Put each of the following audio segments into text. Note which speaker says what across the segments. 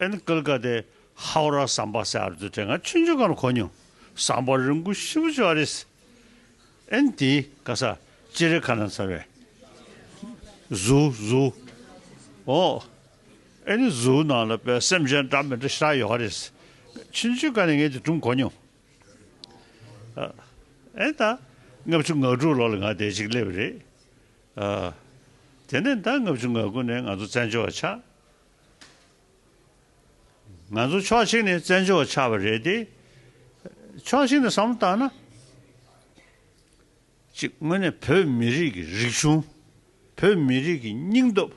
Speaker 1: ཨན་ཀལ་ཀ་ཏེ་ཧའོ་ར་སམ་པ་སེ་ཨར་ཛུ་ཏྲེ་ང་ཆུན་ཆུན་ཀར་གོ་ཉུང་སམ་པ་རིང་གུ་ཤི་བུ་ཅོ་ཨ་རེ་སི་ཨན་ཏི་ཀ་ས་ཅི་རེ་ཁ་ན་ཚར་བའི་ཟུ་ཟུ་ཨོ་ཨེ་ནི་ཟུ་ནང་ལ་པའི་སེམས་ཅན་འདྲ་མི་འདྲ་ཤ་ཡོ་ཨ་རེ་སི་ཆུན་ཆུན་ཀ་ནི་ངས་ཏི་ཀྲུང་གོ་ཉུང་ཨ་ཨེ་ད་ལྔ་བཅུ་ང་དྲུག་ལོ་ལ་ང་དེ་ཅིག་སླེབས་རེད་ཨ་དེ་ནས་ད་ལྔ་བཅུ་ང་དགུ་ནས་ང་ཚོ་བཙན་བྱོལ་བ་ཆགས། ང་ཚོ་ཕྱོགས་གཅིག་ནས་བཙན་བྱོལ་བ་ཆགས་པ་རེད་དེ། ཕྱོགས་གཅིག་ནས་བསམ་བློ་བཏང་ན། གཅིག་དངོས་གནས་བོད་མི་རིགས་ཀྱི་རིག་གཞུང། བོད་མི་རིགས་ཀྱི་སྙིང་སྟོབས།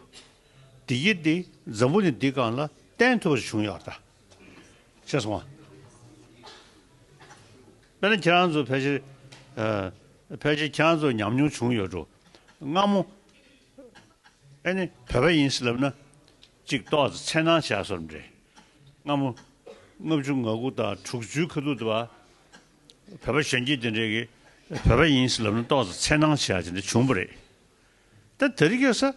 Speaker 1: བདེ་སྐྱིད་དེ་འཛམ་བུ་ནས་འདི་གང་ལ་བརྟེན་ཐུབ་པ་བྱུང་ཡོད་ད། ཅེས་སོང་བ། དཔེར་ན་ཁྱེད་རང་ཚོ་ཕལ་ཆེར། ཕལ་ཆེར་ཁྱེད་རང་ཚོར་ཉམས་མྱོང་བྱུང་ཡོད་འགྲོ། སྔ་མོ། ཨེ་ནི་བོད་པ་ཡིན་སྲིད་ལབ་ན། ཅིག་ཏོག་ཙེ་འཚེར་སྣང་བྱ་སོར་འདྲེ། སྔ་མོ། ལྔ་བཅུ་ང་དགུ་དང་དྲུག་བཅུའི་ཁ་ཐུག་དུ། བོད་པ་གཞོན་སྐྱེས་དེ་འདྲས་ཀྱིས་བོད་པ་ཡིན་སྲིད་ལབ་ན་ཏོག་ཙེ་འཚེར་སྣང་བྱ་ཅི་འདྲ་བྱུང་པ་རེད། ད་ད་རི་ག་ས།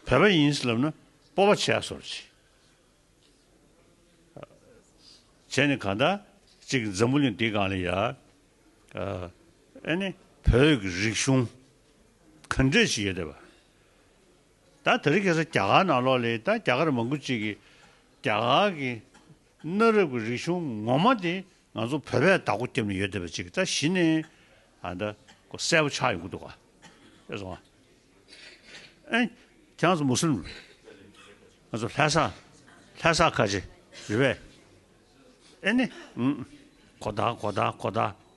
Speaker 1: བོད་པ་ཡིན་སྲིད་ལབ་ན་སྤོ་བ་བྱ་སོར་ཅི། བྱས་ནས་གང་ལྟ། ཅིག་འཛམ་བུ་གླིང་འདི་གང་ལ་ཡ། ཨཱ་ནི། བོད་ཀྱི་རིག་གཞུང་ག་འདྲས་ཤིག་ཡོད་བ། ད་ད་རི་གས་རྒྱ་གར་ནང་ལོག་ལེ་ད་རྒྱ་གར་མང་པོ་ཅིག་གི་རྒྱ་གར་གྱི་གནའ་རབས་ཀྱི་རིག་གཞུང་ངོ་མ་དེ་ང་ཚོ་བོད་པས་བདག་པོ་རྒྱབ་ནས་ཡོད་བ་ཅིག་ད་གཞི་ནས་ཨ་ད་གོ་གསལ་པོ་ཆགས་ཡོང་གི་འདུག་ཨེ་སོང་ཨ། ཨཱ་ནི། ཁྱེད་རང་ཚོ་མུ་སུ་ལུམ་རེད། ང་ཚོ་ལྷ་ས་ལྷ་ས་ཁ་ཆེ་རེད་བས། ཨེ་ནི། གོ་བརྡ་གོ་བརྡ་གོ་བརྡ།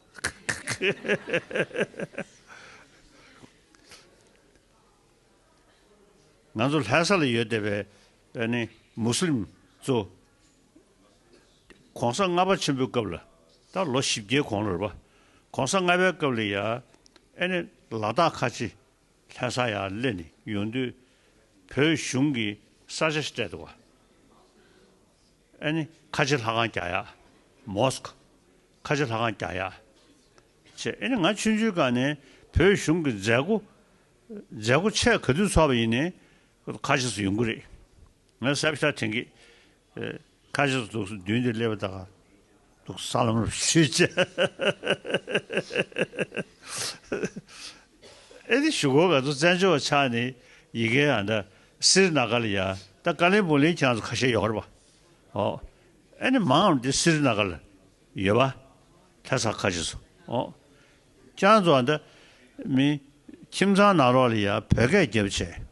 Speaker 1: ང་ཚོ་ལྷ་ས་ལ་ཡོད་བསྡད་པའི་ཨེ་ནི་མུ་སི་ལིམ་གཙོ། གོང་ས་ལྔ་པ་ཆེན་པོའི་སྐབས་ལ་ད་ལོ་བཞི་བརྒྱའི་གོང་ལ་རེད་པ། གོང་ས་ལྔ་པའི་སྐབས་ལ་ཡ་ཨེ་ནི་ལ་དྭགས་ཁ་ཆེ་ལྷ་ས་ཡར་ལེན་ནས་ཡོང་དུས་བོད་གཞུང་གི་ས་ཆ་སྤྲད་འདུག་བ། ཨ་ནི་ཁ་ཆེ་ལྷ་ཁང་རྒྱ་ཡག། Mosque། ཁ་ཆེ་ལྷ་ཁང་རྒྱ་ཡག། བྱས། ཨ་ནི་ང་ཆུང་ཆུང་སྐབས་ནས་བོད་གཞུང་གི་མཛད་སྒོ། མཛད་སྒོ་ཆེས་ག་དུས་ཚོགས་པ་ཡིན་ནའི། ཁ་ཆེ་སུ་ཡོང་གི་རེད། ང་ཟབ་ཤ་དེང་གི། ཁ་ཕྱོགས་སུ་གདུགས་མདུན་དུ་སླེབས་པ་དག་གདུགས་ས་ལམ་རུ་ཞུ་བྱ། ཨེ་ནི་ཞུ་སྒོ་ག་ཚོད་བཙན་བྱོལ་བ་ཆགས་ནས་ཡི་གེ་ཨ་མདའ་སིར་ན་ག་ལ་ཡ་ད་དཀའ་ལས་པོ་ལས་ཁྱང་ཚོ་ཁ་ཤས་ཡོད་ར་བ་ཨོ་ཨེ་ནི་མང་ཨམ་དེ་སིར་ན་ག་ལ་ཡོད་བ་ད་ས་ཁ་ཆེ་སོ་ཨོ་ཁྱང་ཚོ་ཨ་མདའ་མི་ཁྱིམ་ཚང་ནང་རོགས་ལ་ཡ་བོད་སྐད་རྒྱབ་བྱས།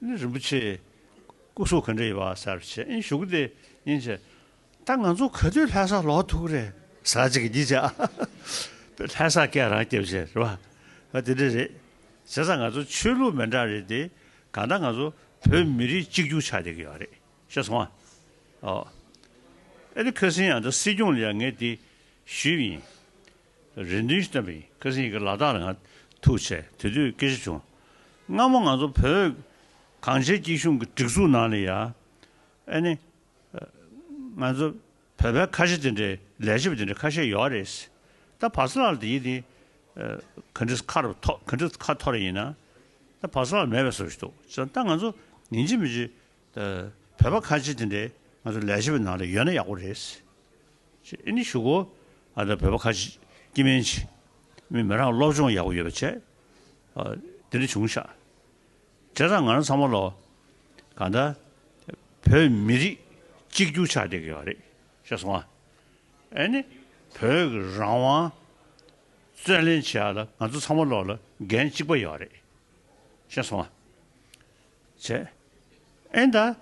Speaker 1: ནི་རིན་པོ་ཆེ། སྐུ་གཟུགས་ག་འདྲ་ཡིན་པ་གསལ་བར་བྱེད་ཨིན་ཞུ་གི་དེ་ཡིན་བྱས། ད་ང་ཚོ་ག་དུས་ལྷ་སར་ལོག་ཐུག་རེད་ཟ་བྱེད་ཀྱི་བྱས། དཔེར་ལྷ་སར་སྐད་རང་སྐྱེ་བྱས་རེད་པ། ང་དེ་འདྲ་རེད། བྱས་ཙང་ང་ཚོ་ཆོས་ལུགས་མི་འདྲ་རེད་དེ། གང་ལྟར་ང་ཚོ་བོད་མི་རིགས་གཅིག་གྱུར་ཆགས་བསྡད་ཀྱི་ཡོད་རེད་ཤེས་སོང་ཨ། ཨོ། ཨེ་ལི་ཁི་སིན་ཡང་འདི་སྲིད་སྐྱོང་ལ་ཡང་ངས་དེ་ཞུས་ཡིན། རེ་འདུན་བཏོན་པའི་སྐད་གསེང་གི་ལ་དྭགས་ལ་ང་ཐུག་ཆེ་དེ་དུས་སྐད་ཆ་བྱུང། སྔ་མོ་ང་ཚོ་བོད་གངས་ཅན་སྐྱིད་གཤོངས་ཀྱི་སྒྲིག་འཛུགས་ནང་ལ་ཡང། ཨ་ནི། ང་ཚོ་བོད་པའི་ཁ་ཤས་དེ་འདྲའི་ལས་བྱེད་པ་དེ་འདྲ་ཁ་ཤས་ཡོད་རེད་ཟེར། ད་བག་ས་ལགས་ལ་དེའི་དེ་ག་འདྲི་ཁ་རུ་ཐོག་ག་འདྲི་ཁ་ཐོག་རེ་ཡིན་ན། ད་བག་ས་ལགས་མེད་པའི་བཟོ་བྱེད་འདུག་བྱས་ཙང་ད་ང་ཚོ་ཉིན་གཅིག་མི་གཅིག། བོད་པ་ཁ་ཆེ་དེ་འདྲས་ང་ཚོ་ལས་བྱེད་པའི་ནང་ལ་ཡོད་ན་ཡག་པོ་རེད། ཅེས་ཨེ་ནི་ཞུ་གོ། ཨ་ད་བོད་པ་ཁ་ཆེ་ཀྱི་མིན་ཆེ། མི་མི་རང་སློབ་སྦྱོང་ཡག་པོ་ཡོད་པ་བྱས། དེ་འདྲས་བྱུང་ཤག། དེ་དང་ང་རང་ཚང་མ་ལ། གང་ལྟར། བོད་མི་རིགས་གཅིག་གྱུར་ཆགས་བསྡད་དགོས་པ་རེད་ཤག་སོང་ཨ། ཨེ་ནི། བོད་ཀྱི་རང་དབང། བརྩོན་ལེན་བྱས་ཡག་ལ་ང་ཚོ་ཚང་མ་ལོག་ལ་འགན་གཅིག་པ་ཡོད་རེད་ཤག་སོང་ཨ། བྱས། ཨེ་ད།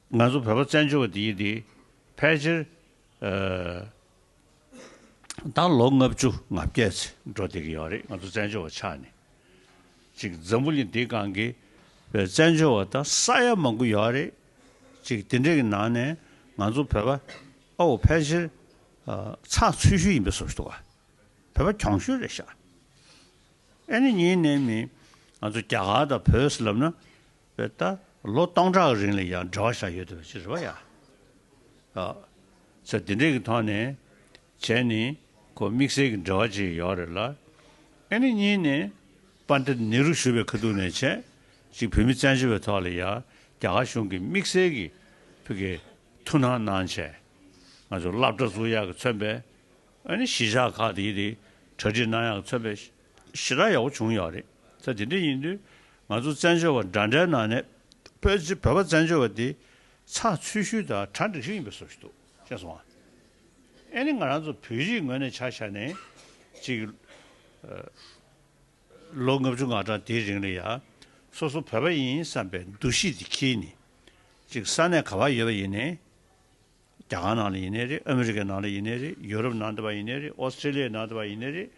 Speaker 1: ང་ཚོ་བོད་པ་བཙན་བྱོལ་བ་འདི་ཡིན་ཏེ། ཕལ་ཆེར། ད་ལོ་ལྔ་བཅུ་ང་བརྒྱད་ཚེ་འགྲོ་བསྡད་ཀྱི་ཡོད་རེད་ང་ཚོ་བཙན་བྱོལ་བ་ཆགས་ནས། ཅིག་འཛམ་བུ་གླིང་འདིའི་སྒང་གི། བཙན་བྱོལ་བ་ད་ས་ཡ་མང་པོ་ཡོད་རེད། ཅིག་དེ་འདྲའི་གི་ནང་ནས་ང་ཚོ་བོད་པ། ཨོའོ་ཕལ་ཆེར། ཚགས་ཚུད་ཤོས་ཡིན་པའི་བཟོ་བཞིན་འདུག་བ། བོད་པ་གྱོང་ཤོས་རེད་ཤག། ཨེ་ནི་གཉིས་གནས་མིན། ང་ཚོ་རྒྱ་གར་དང་བོད་ཟེར་ལབ་ན། བོད་ད་ལོ་སྟོང་ཕྲག་རིང་ལ་ཡང་འབྲེལ་བ་བཞག་ཡོད་དུ་བྱེད་རེད་བ་ཡ། ཚེ་འདི་འདྲས་ཀྱི་ཐོག་ནས་བྱས་ནི་ཁོ་དམིགས་བསལ་གྱི་འབྲེལ་བ་ཅིག་ཡོད་རེད་ལ། ཨེ་ནི་གཉིས་གནས། Pandit Nehru ཞུ་བའི་ཁ་ཐུག་ནས་བྱས། གཅིག་བོད་མི་བཙན་བྱོལ་བའི་ཐོག་ལ་ཡ་རྒྱ་གར་གཞུང་གིས་དམིགས་བསལ་གྱི་ཕུགས་ཀྱི་ཐུགས་སྣང་གནང་བྱས། ང་ཚོ་བླ་བྲ་གཟུགས་ཡག་གི་མཚོན་པའི་གཞིས་ཆགས་ཁག་དེའི་དེ་གྲ་སྒྲིག་གནང་ཡག་ཚོད་དཔེ་ཞེ་དྲག་ཡག་པོ་བྱུང་ཡོད་རེད་ཚ་དེ་འདྲ་ཡིན་དུས་ང་ཚོ་བཙན་བྱོལ་བ་འདྲ་འདྲའི་ནང་ནས་བོད་ཀྱི་བོད་པ་བཙན་བྱོལ་བ་དེ་ཚ་ཚུལ་ཤུལ་དང་གྲ་འགྲིག་ཤིག་ཡིན་པའི་བཟོ་ཞིག་འདུག་ཤེས་སོང་ཨ་ཨེ་ནི་ང་རང་ཚོ་བོད་རིགས་ངོས་ནས་ཆ་བཞག་ནས་ཅིག་ལོ་ལྔ་བཅུ་ང་གྲངས་དེའི་རིང་ལ་ཡ་སོ་སོ་བོད་པ་ཡིན་བསམ་པའི་འདུ་ཤེས་དེ་ཁྱིས་ནས་ཅིག་ས་གནས་ག་བར་ཡོད་པ་ཡིན་ནས། རྒྱ་གར་ནང་ལ་ཡིན་ནའི་རེད་ཨ་མི་རི་ཀའི་ནང་ལ་ཡིན་ནའི་རེད་ཡོ་རོབ་ནང་དུ་བ་ཡིན་ནའི་རེད་ཨོ་སི་ཏྲེ་ལི་ཡའི་ནང་དུ་བ་ཡིན་ནའི་རེད་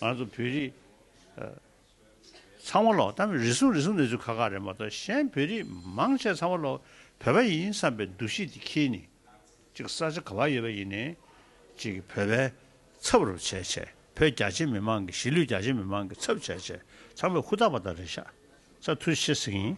Speaker 1: ང་ཚོ་བོད་རིགས་ཚང་མ་ལོག་གཏམ་རེ་ཟུང་རེ་ཟུང་ནས་ཚུལ་ཁག་ཁག་རེད་མ་གཏོགས་གཞན་བོད་རིགས་མང་ཆེ་ཚང་མ་ལོག་བོད་པ་ཡིན་བསམ་པའི་འདུ་ཤེས་དེ་ཁྱེད་ནི་གཅིག་ས་ཆ་ག་བ་ཡོད་པ་ཡིན་ནའི་གཅིག་བོད་པའི་ཚབ་རུ་བྱས་བྱས་བོད་རྒྱ་ཆེ་མི་མང་གི་གཞིས་ལུས་རྒྱ་ཆེ་མི་མང་གི་ཚབ་བྱས་བྱས་ཚང་མས་ཧུར་ཐག་པ་ད་རེ་ཤ་ཚ་ཐུ་ཤེས་ཟིག་ཡིན།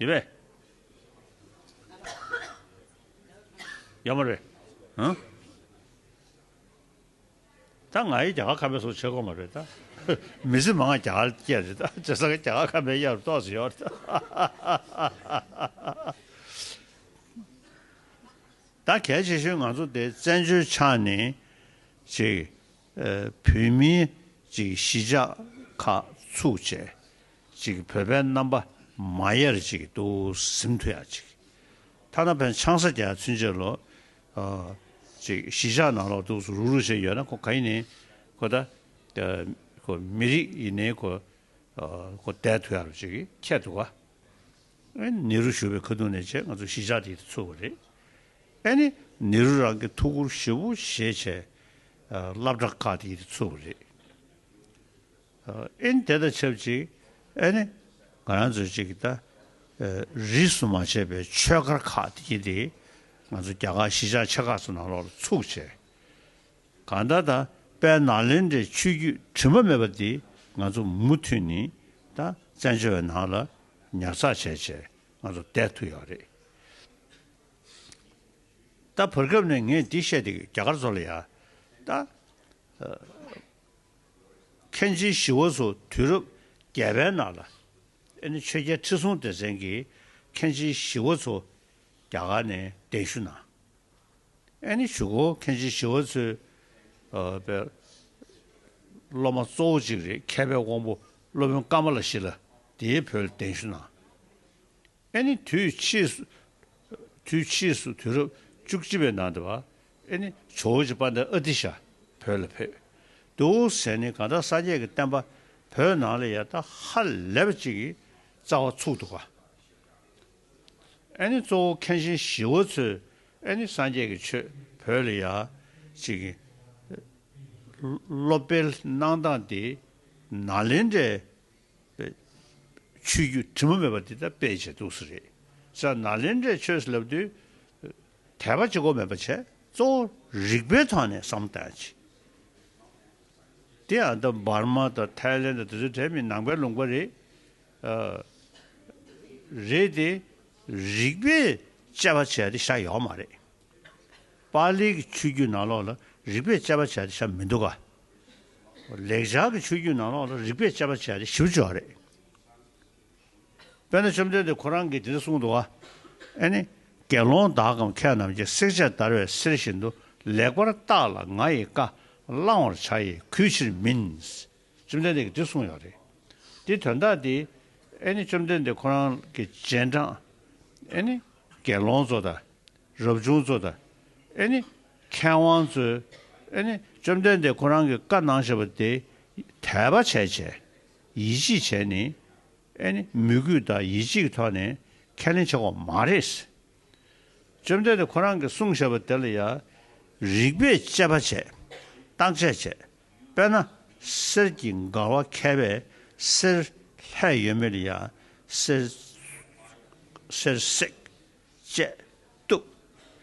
Speaker 1: ཡོད་པས། ཡོད་མ་རེད། ཧུང། ད་ང་ཡི་རྒྱ་གར་ཁམས་པའི་སོགས་བྱེད་དགོས་མ་རེད་ད། མི་ཚེ་མ་ང་རྒྱ་གར་སྐྱེས་རེད་ད་བྱས་ས་ཁ་རྒྱ་གར་ཁམས་པའི་གཡག་རུ་གཏོགས་ཟིན་ཡོད་རེད་ད། ད་གལ་ཆེ་ཤོས་ང་ཚོ་དེ་བཙན་བྱོལ་ཆ་ནས་ཅིག་བོད་མིའི་ཅིག་གཞིས་ཆགས་ཁག་ཚུགས་བྱས། ཅིག་བོད་པའི་རྣམ་པ་མ་ཡར་ཅིག་ཏུ་གཟིམ་ཐུ་ཡག་ཅིག་ཐ་ན་བན་ཆང་ས་སྐྱ་ཚུན་ཆད་ལོ་ཅིག་གཞིས་ཆགས་ནང་ལོག་ཏུ་རུག་རུག་བྱས་ཡོད་ན་ཁོ་ག་ཡིན་ནའི་ཁོ་ད་ཁོ་མི་རིགས་ཡིན་ནའི་ཁོ་ཁོ་བསྡད་ཐུ་ཡག་རུ་ཅིག་ཁྱད་དུ་ག་ནེ་རུ་ཞུ་བའི་ཁ་ཐུག་ནས་བྱས་ང་ཚོ་གཞིས་ཆགས་འདི་ཚུགས་པ་རེད་ཨ་ནི་ནེ་རུ་རང་གི་ཐུགས་ཁུར་ཞེ་བོ་བཞེས་བྱས་བླ་བྲག་ཁག་འདི་ཚུགས་པ་རེད། ཨིན་དེ་དང་ཆབས་ཅིག་ཨེ་ནི། ང་རང་ཚོས་ཅིག་ད་རིས་སུ་མ་བྱས་པའི་ཆོས་སྒར་ཁག་དེ་གཉིས་དེ་ང་ཚོ་རྒྱ་གར་གཞིས་ཆགས་ཆེ་ཁག་ཚོ་ནང་ལོགས་ལ་ཚུགས་བྱས། གང་ལྟར་ད་དཔལ་ནཱ་ལེནྡྲའི་ཆོས་བརྒྱུད་དྲི་མ་མེད་པ་དེ་ང་ཚོ་མུ་མཐུད་ནི་ད་བཙན་བྱོལ་བའི་ནང་ལ་ཉར་ཚགས་བྱས་བྱས་ང་ཚོ་བསྡད་ཐུབ་ཡག་རེད། ད་བར་སྐབས་ནས་ངས་འདི་བཤད་དེ་རྒྱ་གར་ཚོ་ལ་ཡ་ད། མཁན་ཆེན་ཞི་བ་འཚོ་དུས་རབས་བརྒྱད་པའི་ནང་ལ། ཨེ་ནི་ཆོས་རྒྱལ་ཁྲི་སྲོང་ལྡེ་བཙན་གྱིས་མཁན་ཆེན་ཞི་བ་འཚོ་རྒྱ་གར་ནས་གདན་ཞུ་གནང། ཨེ་ནི་ཇུ་གོ་མཁན་ཆེན་ཞི་བ་འཚོའི་སློབ་མ་གཙོ་བོ་གཅིག་རེད་མཁས་པའི་དབང་པོ་སློབ་དཔོན་ཀ་མ་ལ་ཤི་ལ་དེའི་བུ་ལ་གདན་ཞུ་གནང། ཨེ་ནི་དུས་ཕྱིས་སུ། དུས་ཕྱིས་སུ་དུས་རབས་བཅུ་གཅིག་པའི་ནང་དུ། ཨེ་ནི་ཇོ་བོ་རྗེ་དཔའ་ཟླ་ཨ་ཏི་ཤ་བོད་ལ་ཕེབས། དུའོ་ཟན་ནི་གང་དག་སངས་རྒྱས་ཀྱི་བསྟན་པ་བོད་ནང་ལ་ཡར་དར་ཧ་ལས་པ་ཅིག་གི་རྩ་བ་ཚུགས་འདུག་ག། ཨེ་ནི་གཙོ་བོ་མཁན་ཆེན་ཞི་བ་འཚོས་ཨེ་ནི་སངས་རྒྱས་ཀྱི་ཆོས་བོད་ལ་ཡར་ཅིག་གི་སློབ་སྤེལ་གནང་སྟངས་དེ་ནཱ་ལེནྡྲའི་ཆོས་བརྒྱུད་དྲི་མ་མེད་པ་འདི་དག་སྤེལ་བྱེད་ཏུགས་སུ་རེད་ས་ན་ལེན་འདྲེ་ཆོས་ལབ་དུས། དད་པ་ཅི་གོ་མེད་པ་བྱས་གཙོ་བོ་རིག་པའི་ཐོག་ནས་བསམ་གཏན་བྱས། དེ་ཡང་འདི་འབར་མ་དང་ཐའི་ལེན་དང་དེ་ཚོའི་གྲས་མིན་ནང་པའི་ལུང་པ་རེད། རེད་དེ། རིག་པས་དཔྱད་པ་བྱས་ཏེ་བཞག་ཡོག་མ་རེད། པཱ་ལིའི་གི་ཆོས་བརྒྱུད་ནང་ལོགས་ལ་རིག་པས་དཔྱད་པ་བྱས་ཏེ་བྱ་མི་འདུག་ག། ལེགས་སྦྱར་གི་ཆོས་བརྒྱུད་ནང་ལོགས་ལ་རིག་པས་དཔྱད་པ་བྱས་ཏེ་ཞིབ་འཇུག་རེད། དཔེར་ན་བཅོམ་ལྡན་འདས་ཁོ་རང་གིས་དེ་ལྟར་གསུངས་འདུག་ཨ། ནི། དགེ་སློང་དག་གམ་ཁྱེད་རྣམས་ཀྱིས་བསྲེག་བྱ་དར་བའི་གསེར་བཞིན་དུ་ལེགས་པར་བརྟགས་ལ་ང་ཡི་བཀའ་བླང་བར་བྱ་ཡི་གུས་ཕྱིར་མིན། བཅོམ་ལྡན་འདས་ཀྱིས་འདི་གསུངས་ཡོད་རེད། དེའི་དོན་དག་འདི། ཨེ་ནི་བཅོམ་ལྡན་འདས་ཁོ་རང་གི་སྤྱན་དྲངས། ཨེ་ནི། དགེ་སློང་ཚོ་དང། རབ་བྱུང་ཚོ་དང། ཨེ་ནི། མཁས་དབང་ཚོས། ཨེ་ནི། བཅོམ་ལྡན་འདས་ཁོ་རང་གི་བཀའ་གནང་བཞེད་པ་དེ། དད་པ་བྱས་བྱས། ཡིད་ཆེས་བྱས་ནས། ཨེ་ནི། མོས་གུས་དང་ཡིད་ཆེས་ཀྱི་ཐོག་ནས་ཁས་ལེན་བྱེད་དགོས་མ་རེད། བཅོམ་ལྡན་འདས་ཁོ་རང་གིས་གསུངས་བཞེད་པ་དེ་ལ་ཡང། རིགས་པས་དཔྱད་པ་བྱས། བརྟག་དཔྱད་བྱས། དཔེར་ན། གསེར་གྱི་མགར་བ་མཁས་པས་གསེར་ལྷད་ཡོད་མེད་ལ་ཡང་གསེར་གསེར་བསྲེག། བཅད། གཏུབ།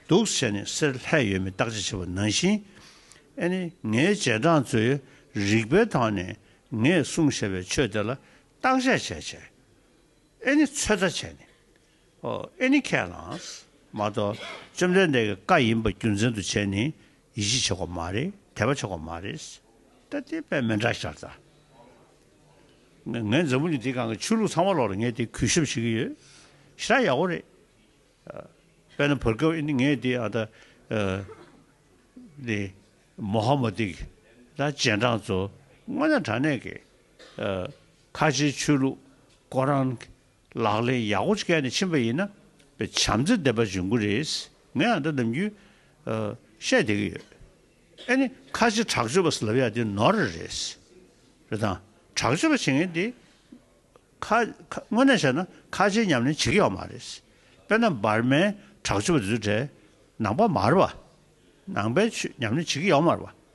Speaker 1: གདུག་བྱས་ནས་གསེར་ལྷད་ཡོད་མེད་བརྟག་དཔྱད་བྱེད་པ་ནང་བཞིན། ཨེ་ནི་ངའི་རྗེས་འབྲང་ཚོས་རིགས་པའི་ཐོག་ནས་ངས་གསུངས་བཞེད་པའི་ཆོས་དེ་ལ་བརྟག་དཔྱད་བྱས་བྱས། ཨེ་ནི་ཚོད་ལྟ་བྱས་ནས། Any Cannons། མ་གཏོགས་བཅོམ་ལྡན་འདས་ཀྱི་བཀའ་ཡིན་པ་རྒྱུ་མཚན་དུ་བྱས་ནས་ཡིད་ཆེས་ཆོག་པ་མ་རེད་དད་པ་ཆོག་པ་མ་རེད། ད་དེ་དཔེ་མེད་འདྲ་ཤར་ཚར། ངས་འཛམ་བུ་གླིང་འདིའི་སྒང་གི་ཆོས་ལུགས་ཚང་མ་ལོག་ལ་ངས་དེ་གུས་ཞབས་བྱེད་ཀྱི་ཡོད། ཤ་ཡག་པོ་རེད། དཔེར་ན་བོད་སྐད་ངས་དེ་ཨ་ད་དེ་མོ་ཧ་མོ་ཏིག་ད་རྗེས་འབྲང་ཚོ་སྔོན་ན་དྲ་གནས་ཀྱི་ཁ་ཆེའི་ཆོས་ལུགས་སྐོར་རང་ལག་ལེན་ཡག་པོ་བཀལ་ནས་ཕྱིན་པ་ཡིན་ན་བྱམས་བརྩེ་ལྡན་པ་འབྱུང་གི་རེད། ངས་འདི་ནམ་རྒྱུན་བཤད་བསྡད་ཀྱི་ཡོད། ཨེ་ནི་ཁ་ཆེ་དྲག་སྤྱོད་པ་ཟེར་ལབ་ཡ་དེ་ནོར་རེད། རེད་དང། དྲག་སྤྱོད་པ་བྱེད་མཁན་དེ། དངོས་གནས་བཤད་ན་ཁ་ཆེའི་ཉམས་ལེན་བྱེད་ཀྱི་ཡོད་མ་རེད། དཔེར་ན་འབར་མའི་དྲག་སྤྱོད་པ་དེ་ཚོའི་གྲས་ནང་པ་མར་བ། ནང་པའི་ཆོས་ཉམས་ལེན་བྱེད་ཀྱི་ཡོད་མར་བ།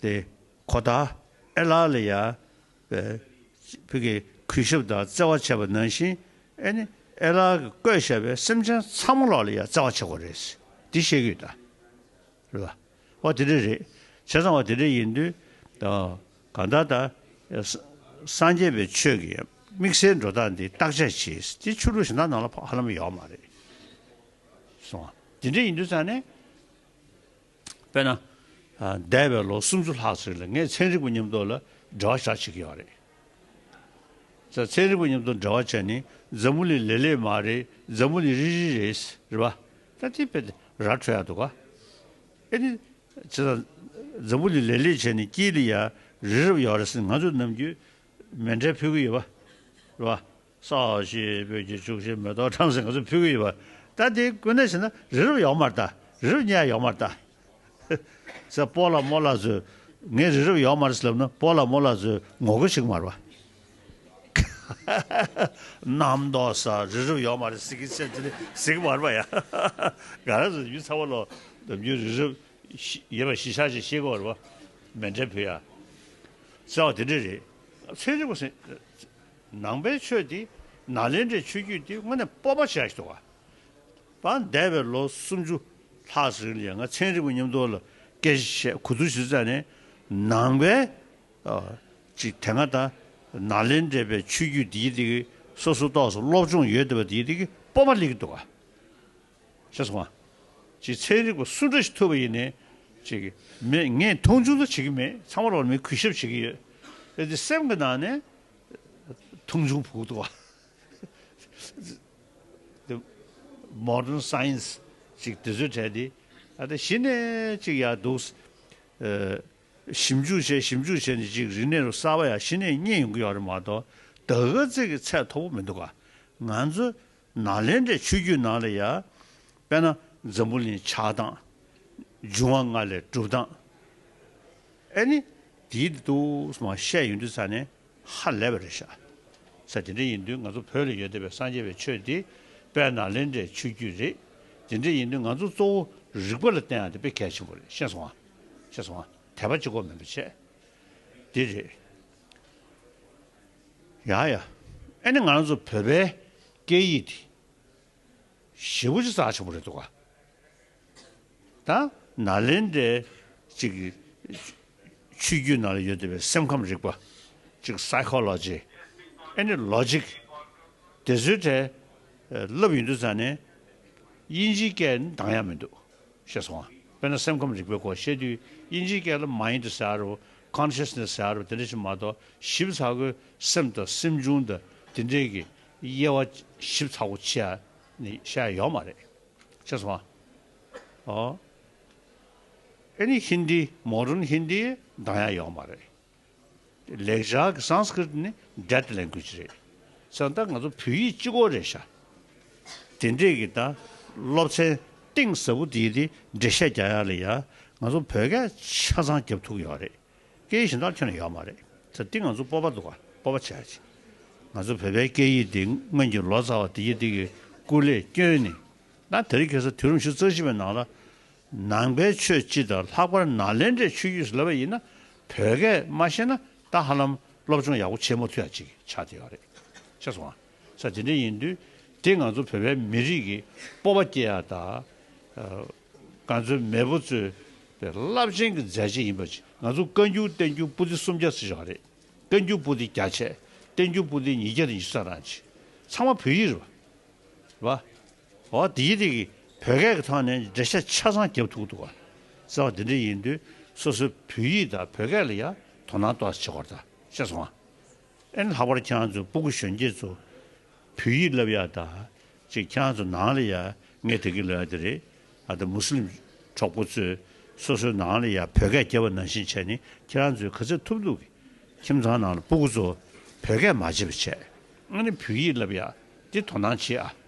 Speaker 1: ཏེ། གོ་བརྡ། ཨེ་ལ་ལི་ཡ། བུ་གི་གུས་ཞབས་དང་བརྩེ་བ་བྱེད་པ་ནང་བཞིན་ཨེ་ནི་ཨེ་ལ་གི་བཀོད་ཞབས་པའི་སེམས་ཅན་ཚང་མ་ལ་ལ་ཡ་བརྩེ་བ་བྱེད་དགོས་རེད། འདི་ཤེས་གི་དང། རེད་པ། བ་དེ་འདྲ་རེད། བྱས་ཙང་བ་དེ་འདྲ་ཡིན་དུས། གང་ལྟར་ད། སངས་རྒྱས་པའི་ཆོས་ཀྱི་དམིགས་བསལ་འགྲོ་སྟངས་འདི་བརྟག་དཔྱད་བྱེད་དེ་ཆོས་ལུགས་གཞན་དག་ནང་ལ་ཕ་ལྷ་མོ་ཡོད་མ་རེད། སོང། དེ་འདྲ་ཡིན་དུས་ཙང་ནས། དཔེར་ན། འདས་པའི་ལོ་སུམ་ཅུ་ལྷག་ཟིག་ལ་ངས་ཚན་རིག་པ་ཉམས་རྟོགས་ལ་འབྲེལ་བ་བྱ་བྱེད་ཀྱི་ཡོད་རེད། ཚན་རིག་པ་ཉམས་རྟོགས་འབྲེལ་བ་བྱས་ནས་འཛམ་བུ་ལི་ལེ་ལེ་མ་རེད་འཛམ་བུ་ལི་རི་རི་རེད་ཟེར་བ། ད་དེ་དཔེ་དེ་ར་འཕྲོད་ཡག་འདུག་ག། ཨེ་ནི། བྱས་ཙང་འཛམ་བུ་ལི་ལེ་ལེ་བྱས་ནས་སྐྱིད་ལ་ཡར་རི་རབ་ཡོད་རེད་ཟེར་ནས་ང་ཚོས་ནམ་རྒྱུན་མེ་འབྲས་འཕུལ་གྱི་ཡོད་པ། ས་གཞི་བོད་ཀྱི་བཅུ་བཞི་མེ་ཏོག་ཁྲམ་ཟིང་ག་ཚོད་ཕུལ་གི་ཡོད་པ་ད་དེ་ཀུན་ནས་བྱས་ན་རི་རབ་ཡོག་མར་བལྟ་རི་རབ་གཉའ་ཡོག་མར་བལྟ། ཟེར་སྤོ་ལ་སྨོ་ལ་བཟོས་ངས་རི་རབ་ཡོག་མར་ཟེར་ལབ་ན་སྤོ་ལ་སྨོ་ལ་བཟོས་ངོ་རྒོལ་ཞིག་མར་བ། རྣམ་རྟོག་ས་རི་རབ་ཡོག་མར་ཟིག་གི་ཆེ་ཆེ་ཟིག་མར་བ་ཡ། ག་རེ་ཟེར་ཡུལ་ཚ་བ་ལོ་འདབ་རྒྱུ་རི་རབ་ཡེ་བ་ཞི་ཤ་ཞིག་ཤེས་གི་མར་བ་མེ་འདྲེ་བུ་ཡ། ཟེར་བ་དེ་འདྲ་རེད། ཚན་རིག་པ་ཟེར་ནང་པའི་ཆོས་འདི་ནཱ་ལེནྡྲའི་ཆོས་བརྒྱུད་འདི་དངོས་གནས་སྤོབས་པ་ཆགས་འདུག་ཨ། འདས་པའི་ལོ་སུམ་ཅུ་ལྷག་རིང་ལས་ང་ཚན་རིག་པ་ཉམས་རྟོགས་ལ་སྐད་ཆ་བཤད་གོ་ཐུག་ཞུ་ཙམ་ནས་ནང་པའི་ཅིག་དེ་སྔ་དང་ནཱ་ལེནྡྲའི་པའི་ཆོས་བརྒྱུད་འདི་ཡི་དེ་སོ་སོ་རྟོགས་སོ་སློབ་སྦྱོང་ཡོད་བསྡད་པ་འདི་ཡི་དེ་སྤོབས་པ་ལེགས་འདུག་ཨ། ཤ་སོང་ཨ། ཅིག་ཚན་རིག་པ་སུ་འདྲ་ཞིག་ཐུབ་པ་ཡིན་ནས་ཅིག་མེད་ངས་མཐོང་ཆུང་དུ་བྱེད་ཀྱི་མེད་ཚང་མ་རོགས་ལ་མི་གུས་ཞབས་བྱེད་ཀྱི་ཡོད་དེ་སེམས་ཀྱི་ནང་ནས་མཐོང་ཆུང་ཕུགས་དུ་བ། དེ Modern Science ཅིག་དེ་ཚོའི་གྲས་དེ་ཨ་ད་གཞི་ནས་ཅིག་ཡག་འདུག། ཞིབ་འཇུག་བྱས་ཞིབ་འཇུག་བྱས་ནས་ཅིག་རིག་གནས་རུ་གསར་བ་ཡང་གཞི་ནས་རྙེད་ཡོང་གི་ཡོད་རེད་མ་གཏོགས་ད་ག་ཚད་ཀྱི་ཚད་མཐོ་པོ་མི་འདུག་ག། ང་ཚོ་ནཱ་ལེནྡྲའི་ཆོས་བརྒྱུད་ནང་ལ་ཡང། དཔེར་ན་འཛམ་བུ་གླིང་ཆགས་སྟངས། འབྱུང་བ་ལྔ་ལས་གྲུབ་སྟངས། ཨེ་ནི། དེའི་འདི་དུ་མ་བཤད་ཡོད་འདུག་ས་ནི་ཧ་ལས་པ་རེད་ཤག། ས་དེ་འདྲ་ཡིན་དུས་ང་ཚོ་བོད་ལ་ཡོད་བསྡད་པའི་སངས་རྒྱས་པའི་ཆོས་དེ་དཔལ་ནཱ་ལེནྡྲའི་ཆོས་བརྒྱུད་རེད། དེ་འདྲ་ཡིན་དུས་ང་ཚོ་གཙོ་བོ་རིག་པ་ལ་བརྟེན་ཡང་དེ་དཔེ་གལ་ཆེན་པོ་རེད་ཤེས་སོང་ཨ། ཤེས་སོང་ཨ། དད་པ་གཅིག་གོ་མེད་པ་བྱས། དེ་རེད། ཡ་ཡ། ཨེ་ནི་ང་ཚོ་བོད་པའི་སྐད་ཡིག་འདི་ཞེ་པོ་ཆེ་ཙག་ཆེན་པོ་རེད་འདུག་ག་ད་ན་ལེན་འདྲེ་ཅིག་ཆུ་རྒྱུད་ནང་ལ་ཡོད་བསྡད་པའི་སེམས་ཁམས་རིག་པ་ཅིག Psychology ཨེ་ནི Logic དེ་ཚོའི་གྲས་བསླབ་ཡོད་འདུག་ཙང་ནས་དབྱིན་ཇིའི་སྐད་ནི་འདང་ཡ་མི་འདུག་ཞེས་སོང་ང། དཔེར་ན་སེམས་ཁམས་རིག་པའི་སྐོར་བཤད་དུས་དབྱིན་ཇིའི་སྐད་ལ Mind ཟེར་ཨ་རོ། Consciousness ཟེར་ཨ་རོ་དེ་འདྲ་ཞིག་མ་གཏོགས་ཞིབ་ཚགས་སྒོས་སེམས་དང་སེམས་བྱུང་དང་དེ་འདྲས་ཀྱི་དབྱེ་བ་ཞིབ་ཚགས་པོ་ཆེ་ནི་བཤད་ཡོད་མ་རེད། ཞེས་སོང་ང། ཨོ། ཨཱ་ནི་ཧིན་དི Modern Hindi གདངས་ཡང་ཡོད་མ་རེད། ལེགས་བྱང་གི Sanskrit ནི Dead Language རེད་ས་ད་ང་ཚོ་བོད་ཡིག་སྤྱི་གོ་རེད་ཤ་དེ་འདྲས་གི་ད་སློབ་ཚན་གཏིང་ཟབ་པོ་དེ་དེ་འདྲས་བཤད་རྒྱ་ཡག་ལེ་ཡ་ང་ཚོ་བོད་སྐད་ཆ་ཚང་རྒྱབ་ཐུག་ཡོག་རེད་སྐད་ཡིག་གཞན་དག་ཁྱོན་ན་ཡོག་མ་རེད་ས་དེ་ང་ཚོ་སྤོབས་པ་འདུག་ག་སྤོབས་པ་བྱས་ཅིག་ང་ཚོ་བོད་པའི་སྐད་ཡིག་དེ་སྔོན་གྱི་ལོ་ཙཱ་བ་དེ་གི་དེ་གི་སྐུ་ལས་བསྐྱོན་ནི་ད་དེར་གི་ས་དུས་རིམ་བཞི་རྩ་བཞི་བའི་ནང་ལ་ནང་པའི་ཆོས་སྤྱི་དང་ལྷག་པར་ནཱ་ལེནྡྲའི་ཆོས་བརྒྱུད་ཟླ་བ་ཡིན་ན་བོད་སྐད་མ་ཤེས་ན་ད་ཧ་ལམ་སློབ་སྦྱོང་ཡག་པོ་བྱེད་མ་ཐུབ་ཡ་ཅིག་ཆགས་བསྡད་པ་རེད་ཤེས་སོང་ང་ས་དེ་འདྲ་ཡིན་དུས་དེ་ང་ཚོ་བོད་པའི་མི་རིགས་ཀྱི་སྤོབས་པ་སྐྱེ་ཡ་དང། ང་ཚོའི་མེས་པོ་གཙོས་པའི་རླབས་ཆེན་གྱི་མཛད་རྗེས་ཡིན་པ་ཅིག་ང་ཚོ་བཀའ་འགྱུར་བསྟན་འགྱུར་པོ་ཏི་སུམ་བརྒྱ་ཟེར་བཞིན་པ་རེད་བཀའ་འགྱུར་པོ་ཏི་བརྒྱ་ཆད་བསྟན་འགྱུར་པོ་ཏི་ཉིས་བརྒྱ་དང་ཉི་ས་རང་ཅིག་ཚང་མ་བོད་ཡིག་རེད་བ། འོ་དེའི་རིགས་བོད་སྐད་ཀྱི་ཐོག་ནས་འགྲེལ་བཤད་ཆ་ཚང་བརྒྱབ་ཐུག་འདུག་ཟེར་བ་དེ་འདྲ་ཡིན་དུས་སོ་སོའི་བོད་ཡིག་དང་བོད་སྐད་ལ་ཡང་དོ་སྣང་ཏོག་ཙམ་བྱེད་དགོས་རེད་བཤད་སོང་ཨ། ཨེ་ལྷག་པར་ཁྱེད་རང་ཚོ་སྤུ་གུ་གཞོན་སྐྱེས་ཚོ་བོད་ཡིག་བསླབ་ཡག་ད་ཅིག་ཁྱེད་རང་ཚོ་ནང་ལ་ཡང་ངས་དེ་གི་ལོ་ཡག་དེ་རེད་ཨ་ད་མུ་སི་ལིམ་གྲོགས་པོ་ཚོས་སོ་སོའི་ནང་ལ་ཡང་བོད་སྐད་རྒྱབ་པ་ནང་བཞིན་བྱས་ནས་ཁྱེད་རང་ཚོས་ག་ཚད་ཐུབ་འདུག་གི་ཁྱིམ་ཚང་ནང་ལ་སྤུ་གུ་ཚོ་བོད་སྐད་མ་བྱེད་པ་བྱས་ཨ་ནི་བོད་ཡིག་བསླབ་ཡག་དེ་དོ་སྣང་བྱེད་ཨ།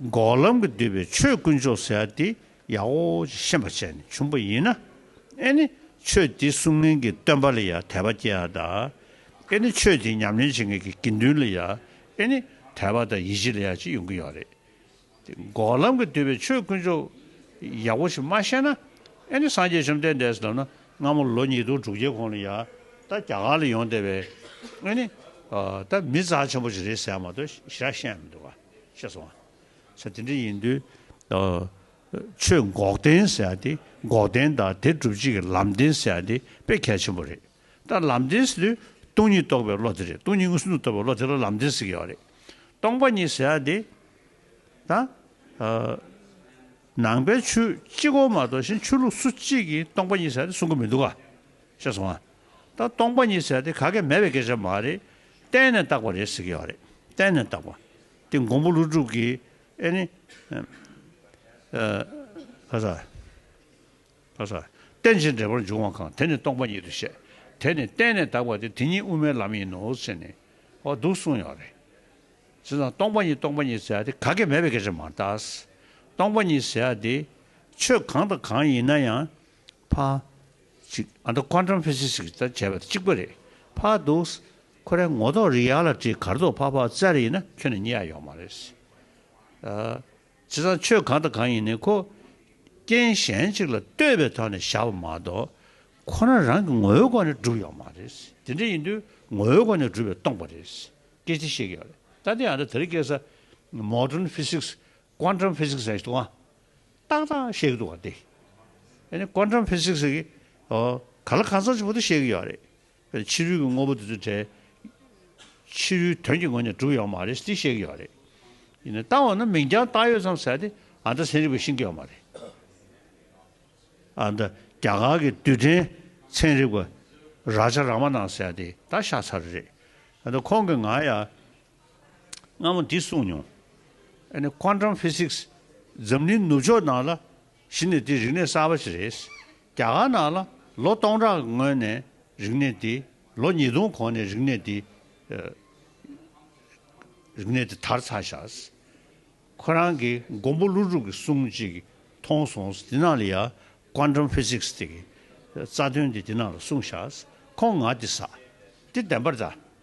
Speaker 1: འགོག་ལམ་གྱིས་བསྡུས་པའི་ཆོས་དཀོན་མཆོག་ཟེར་བ་འདི་ཡང་ཨོ་ཅེས་ཤེས་པར་བྱས་ནས་བྱུང་བ་ཡིན་ན། ཨེ་ནི་ཆོས་འདི་གསུང་མཁན་གྱི་སྟོན་པ་ལ་ཡང་དད་པ་སྐྱེ་ཡང་དང། ཨེ་ནི་ཆོས་འདི་ཉམས་ལེན་བྱེད་མཁན་གྱི་དགེ་འདུན་ལ་ཡང་ཨེ་ནི་དད་པ་དང་ཡིད་ཆེས་ལ་ཡང་ཅི་ཡོང་གི་ཡོད་རེད་དེ། འགོག་ལམ་གྱིས་བསྡུས་པའི་ཆོས་དཀོན་མཆོག་ཡག་པོ་ཞིག་མ་ཤེས་ན། ཨེ་ནི་སངས་རྒྱས་བཅོམ་ལྡན་འདས་ལབ་ན་སྔ་མོ་ལོ་ཉིས་སྟོང་དྲུག་བརྒྱའི་གོང་ལ་ཡང་ད་རྒྱ་གར་ལ་ཡོང་བསྡད་པའི་ཨེ་ནི་ད་མི་རྩ་ཆེན་པོ་ཞིག་རེད་ཟེར་མ་གཏོགས་ཞེ་དྲག་ཤེས་ཡ་མི་འདུག་ག། ཤེས་སོང། ཚེ་དེ་འདྲ་ཡིན་དུས། ཆོས་འགོག་བདེན་ཟེར་དེ་འགོག་བདེན་དང་དེ་སྒྲུབ་བྱེད་ཀྱི་ལམ་བདེན་ཟེར་དེ་དཔེ་གལ་ཆེན་པོ་རེད། ད་ལམ་བདེན་ཟེར་དུས་སྟོང་ཉིད་རྟོགས་པའི་བློ་དེ་རེད་སྟོང་ཉིད་ངོས་ཟིན་དུ་རྟོགས་པའི་བློ་དེ་ལ་ལམ་བདེན་ཟེར་གྱི་ཡོད་རེད། སྟོང་པ་ཉིད་ཟེར་དེ། ད། ནང་པའི་ཆོས་གཅིག་གོ་མ་གཏོགས་གཞན་ཆོས་ལུགས་སུ་གཅིག་གིས་སྟོང་པ་ཉིད་ཟེར་དེ་གསུང་གི་མི་འདུག་ག། ཅེས་གསུངས་ཨ། ད་སྟོང་པ་ཉིད་ཟེར་ཏེ་ག་གེ་མེད་པའི་སྐད་ཆ་མ་རེད། གཏན་ནས་བཏགས་པ་རེད་ཟེར་གྱི་ཡོད་རེད། གཏན་ནས་བཏགས་པ། དེ་མགོན་པོ་ཀླུ་སྒྲུབ་ཀྱིས་ཨེ་ནི། ཨ། ཨ། རྟེན་ཅིང་འབྲེལ་པར་འབྱུང་བ་གང་དེ་ནི་སྟོང་པ་ཉིད་དུ་བཤད། དེ་ནི་གཏན་ནས་བཏགས་པ་དེ་དེ་ཉིད་དབུ་མའི་ལམ་ཡིན་ནོ་ཟེར་ནས་ཨོ་འདུག་གསུངས་ཡོད་རེད། དེ་ཙང་སྟོང་པ་ཉིད་སྟོང་པ་ཉིད་ཟེར་ཏེ་ག་གེ་མེད་པའི་སྐད་ཆ་མ་རེད། སྟོང་པ་ཉིད་ཟེར་ཏེ་ཆོས་གང་དང་གང་ཡིན་ན་ཡང་ཕ། ཅིག། ཨ་མདོ་ཀོ་འགྲམ་ཕེ་སི་སི་ཀི་ལྟར་བྱས་པ་གཅིག་པ་རེད། ཕ། འདུག། ཁོ་རའི་ངོ་ཐོག་རི་ཡག་ལ་བྲིས་གར་ཐོག་ཕ་ཕ་བཙལ་རེ་ཡིན་ན་ཁྱོད་ནས་རྙེད་ཡ་ཡོག་མ་རེད། བྱས་ཙང་ཆོས་གང་དང་གང་ཡིན་ནི་ཁོ། རྐྱེན་གཞན་ཅིག་ལ་ལྟོས་པའི་ཐོག་ནས་བཞག་པ་མ་གཏོགས། ཁོ་རང་རང་གི་ངོ་བོའི་སྒོ་ནས་བསྒྲུབས་ཡོག་མ་རེད། དེ་འདྲ་ཡིན་དུས་ངོ་བོའི་སྒོ་ནས་བསྒྲུབས་པའི་སྟོང་པ་རེད། སྐད་ཆ་བཤད་ཀྱི་ཡོག་རེད། ད་ལྟའི་ཨ་མདོ་དེ་རིགས་སྐད་ས། Modern Physics། ཀོ་འགྲམ་ཕེ་སི་སི་ཀི་ས་ཡིན་ཏུའང། རྟགས་དང་བཤད་ཀྱི་འདུག་བ་འདི། ཨནི Quantum Physics ཟེར་གི། ཨོ། ག་ལ་གང་ཟག་ཆེན་པོ་དེ་བཤད་ཀྱི་ཡོད་རེད། དཔེར་ན་ཕྱི་རོལ་གྱི་དངོས་པོ་དེ་ཚོའི་གྲས། ཕྱི་རོལ་དོན་གྱི་ངོས་ནས་གྲུབ་ཡོད་མ་རེད་དེ་བཤད་ཀྱི་ཡོད་རེད། ཡིན་ནའི་རྟགས་འོ་ན་མིང་རྐྱང་བཏགས་ཡོད་ཙམ་ཟེར་ཏེ་ཨ་མདའ་ཚན་རིག་པས་ཤིན་ཀྱི་ཡོད་མ་རེད། ཨ་མདའ་རྒྱ་གར་གྱི་དུས་དྲན་ཚན་རིག་པ་རཱ་ཇཱ་རཱ་མ་ནཱ་ཟེར་ཡ་དེ་ད་ཤ་ཚ་རེ་རེད། ཨ་མདའ་ཁོང་གི་ང་ཡ། སྔ་མོ་འདི་གསུངས་མྱོང། ཨནི Quantum Physics། འཛམ་གླིང་ནུབ་ཕྱོགས་ནང་ལ་གཞི་ནས་དེ་རིག་གནས་གསར་བ་ཞིག་རེད། རྒྱ་གར་ནང་ལ་ལོ་སྟོང་ཕྲག་གི་སྔོན་ནས་རིག་གནས་འདི། ལོ་ཉིས་སྟོང་གོང་ནས་རིག་གནས་འདི། རིག་གནས་འདི་དར་ཚར་བཞག། ཁོ་རང་གི་མགོན་པོ་ཀླུ་སྒྲུབ་ཀྱི་གསུང་ཅིག་མཐོང་སོང། དེ་ནང་ལ་ཡང Quantum Physics དེ་གི་རྩ་དོན་འདི་དེ་ནང་ལ་གསུངས་བཞག། ཁོང་ང་འདི་ཟ། འདི་བདེན་པར་བལྟ།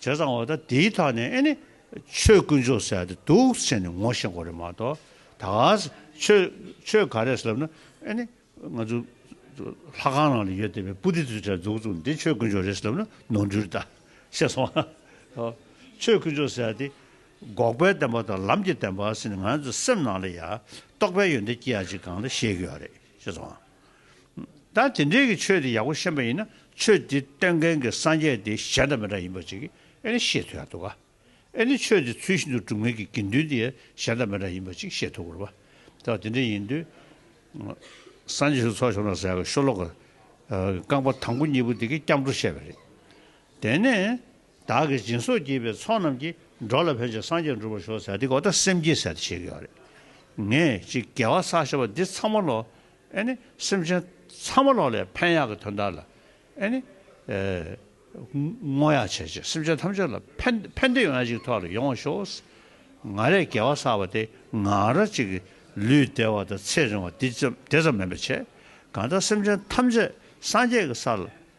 Speaker 1: བྱས་ཙང་འོ་ད་དེའི་ཐག་ནས་ཨེ་ནི་ཆོས་དཀོན་མཆོག་ཟེར་ཡ་དེ་སྡུག་ཟེར་ནས་ངོ་ཤེས་འགོ་རེད་མ་གཏོགས་ད་ག་ཟེ་ཆོས་ག་རེད་ཟེར་ལབ་ན་ཨེ་ནི་ང་ཚོ་ལྷ་ཁང་ནང་ལ་ཡོད་བསྡད་པའི་པུ་ཏི་ཚོའི་གྲས་འཛུགས་འཛུགས་ནས་དེ་ཆོས་དཀོན་མཆོག་རེད་ཟེར་ལབ་ན་ནོར་འཁྲུལ་རེད་ད་ཤེས་སོང་ཨ་ཧོ། ཆོས་དཀོན་མཆོག་ཟེར་ཡ་དེ་འགོག་པའི་བདེན་པ་དང་ལམ་གྱི་བདེན་པ་ཟེར་ནས་ང་ཚོ་སེམས་ནང་ལ་ཡ་རྟོག་པའི་ཡོན་ཏན་སྐྱེ་ཡ་ཅིག་གང་ལ་ཤེས་གི་ཡོད་རེད་ཤེས་སོང་ཨ་ད་དེ་འདྲའི་གི་ཆོས་དེ་ཡག་པོ་ཤེས་པ་ཡིན་ན་ཆོས་དེ་སྟོན་མཁན་གི་སངས་རྒྱས་དེ་གཞན་དང་མི་འདྲ་ཡིན་པ་ཅིག་གི་ཨེ་ནི་ཤེས་ཐུབ་ཡག་འདུག་ག་ཨེ་ནི་ཆོས་དེ་ཚུལ་བཞིན་དུ་སྒྲུབ་མཁན་གི་དགེ་འདུན་དེ་གཞན་དང་མི་འདྲ་ཡིན་པ་ཅིག་ཤེས་ཐུབ་དགོས་པ་ད་དེ་འདྲ་ཡིན་དུས་སངས་རྒྱས་ཞུགས་ཚོགས་བྱུང་ན་ཟེར་གི་ཤོ་ལོ་ཀ་རྐང་པ་དང་པོ་གཉིས་པོ་དེ་གི་སྐྱབས་འགྲོ་བཤད་པ་རེད་དེ་ནས། བདག་གིས་སྦྱིན་སོགས་བགྱིས་པའི་ཚོགས་རྣམས་ཀྱིས་འགྲོ་ལ་ཕན་ཅིང་སངས་རྒྱས་འགྲུབ་པར་ཤོག་ཟེར་ཏེ་གོ་བརྡ་སེམས་བསྐྱེད་ཟེར་ཏེ་བྱེད་ཀྱི་ཡོད་རེད། ངས་ཅིག་དགེ་བ་བསགས་ཞེས་པ་འདི་ཚང་མ་ལོག་ཨེ་ནི། སེམས་ཅན་ཚང་མ་ལོག་ལས་ཕན་ཡག་གི་དོན་དག་ལ་ཨེ་ནི། བསྔོ་ཡག་བྱས་རྗེས་སེམས་ཅན་ཐམས་ཅད་ལ་ཕན་ཕན་བདེ་ཡོང་ཡག་ཅིག་ཐོག་ལ་ཡོང་བར་ཤོག་ང་རས་དགེ་བ་བསགས་པ་དེ་ང་ར་ཅིག་གིས་ལུས་བདེ་བ་དང་ཚེ་རིང་བ་དེ་ཙམ་མིན་པ་བྱས་གང་ལྟར་སེམས་ཅན་ཐམས་ཅད་སངས་རྒྱས་ཀྱི་སར་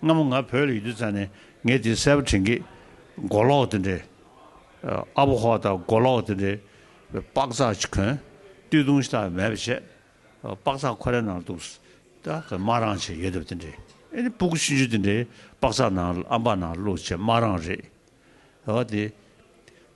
Speaker 1: སྔ་མོ་ང་བོད་ལ་ཡོད་དུས་ཙང་ནས་ངས་དེ་གསལ་པོ་དྲན་གི། མགོ་ལོག་དེ་འདྲའི། ཨ་བོ་ཧོ་དང་མགོ་ལོག་དེ་འདྲའི། པགས་རྩག་ཅིག་གོན། བཏུས་ཐུང་ཞིག་དང་མེད་པ་བྱས། པགས་རྩག་ཁོ་རའི་ནང་འདུག། སྨྲ་རང་བྱས་ཡོད་དམ་དེ་འདྲའི། ཨེ་ནི་སྤུ་གུ་ཆུན་ཆུན་དེ་འདྲའི་པགས་རྩག་ནང་ཨམ་པ་ནང་བླུགས་བྱས་སྨྲ་རང་རེད། ཨོ་དེ།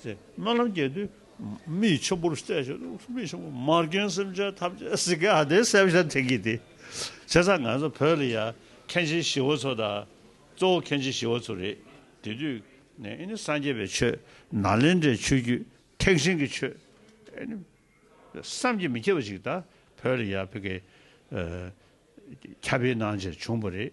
Speaker 1: ཚེ་སྨོན་ལམ་རྒྱས་བསྡུས། མིག་ཆུ་བུར་བརྩེགས་བྱེད་དོ། མིག་ཆུ་བུར་མར་སྐྱོན་སེམས་ཅན་ཐམས་ཅད་གཟིགས་དགེ་ཨ་དེ་སེ་བྱ་ཐེག་གིས་ཏེ། བྱས་ཙང་ང་ཚོ་བོད་ལ་ཡ། མཁན་ཆེན་ཞི་བ་འཚོ་དང། གཙོ་བོ་མཁན་ཆེན་ཞི་བ་འཚོ་རེད། དེ་དུས་ནས་ཨེ་ནི་སངས་རྒྱས་པའི་ཆོས། ནཱ་ལེནྡྲའི་ཆོས་བརྒྱུད། ཐེག་ཆེན་གྱི་ཆོས། ཨེ་ནི། བསམ་གྱིས་མི་ཁྱབ་པ་ཞིག་ད་བོད་ལ་ཡ་བྷི་གའི། ཁྱབ་སྤེལ་གནང་རྗེས་བྱུང་བ་རེད།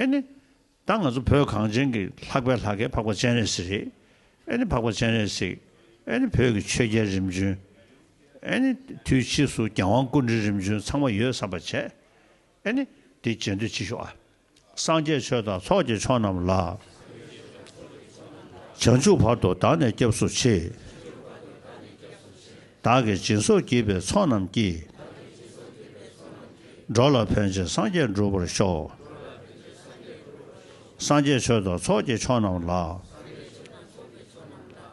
Speaker 1: ཨེ་ནི། ད་ང་ཚོ་བོད་གངས་ཅན་གྱི་ལྷག་པའི་ལྷ་སྐལ་འཕགས་པ་སྤྱན་རས་གཟིགས་རེད། ཨེ་ནི་འཕགས་པ་སྤྱན་རས་གཟིགས། ཨེ་ནི་བོད་ཀྱི་ཆོས་རྒྱལ་རིམ་བྱོན། ཨེ་ནི། དུས་ཕྱིས་སུ་རྒྱལ་དབང་ཀུན་འདྲི་རིམ་བྱོན་ཚང་མ་ཡོད་བསམ་པ་བྱས། ཨེ་ནི། དེ་རྗེས་འདུས་སྤྱི་ཤོག་ཨ། སངས་རྒྱས་ཆོས་དང་ཚོགས་ཀྱི་མཆོག་རྣམས་ལ། བྱང་ཆུབ་བར་དུ་བདག་ནི་སྐྱབས་སུ་མཆི། བདག་གི་སྦྱིན་སོགས་བགྱིས་པའི་ཚོགས་རྣམས་ཀྱིས། འགྲོ་ལ་ཕན་བྱེད་སངས་རྒྱས་འགྲུབ་པར་ཤོག། སངས་རྒྱས་ཆོས་དང་ཚོགས་ཀྱི་མཆོག་རྣམས་ལ།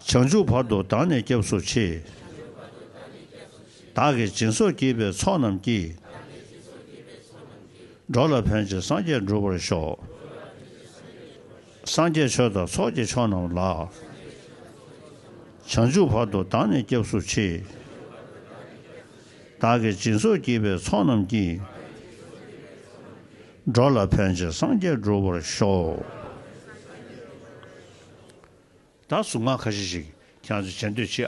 Speaker 1: བྱང་ཆུབ་བར་དུ་བདག་ནི་སྐྱབས་སུ་མཆི། བདག་གི་སྦྱིན་སོགས་བགྱིས་པའི་ཚོགས་རྣམས་ཀྱིས། འགྲོ་ལ་ཕན་བྱེད་སངས་རྒྱས་འགྲུབ་པར་ཤོག། སངས་རྒྱས་ཆོས་དང་ཚོགས་ཀྱི་མཆོག་རྣམས་ལ། བྱང་ཆུབ་བར་དུ་བདག་ནི་སྐྱབས་སུ་མཆི། བདག་གི་སྦྱིན་སོགས་བགྱིས་པའི་ཚོགས་རྣམས་ཀྱིས། འགྲོ་ལ་ཕན་བྱེད་སངས་རྒྱས་འགྲུབ་པར་ཤོག། བདག་གཟུགས་སྔགས་ཁ་ཤས་ཤིག་ཀྱང་བྱེད་འདོད་མཆིས།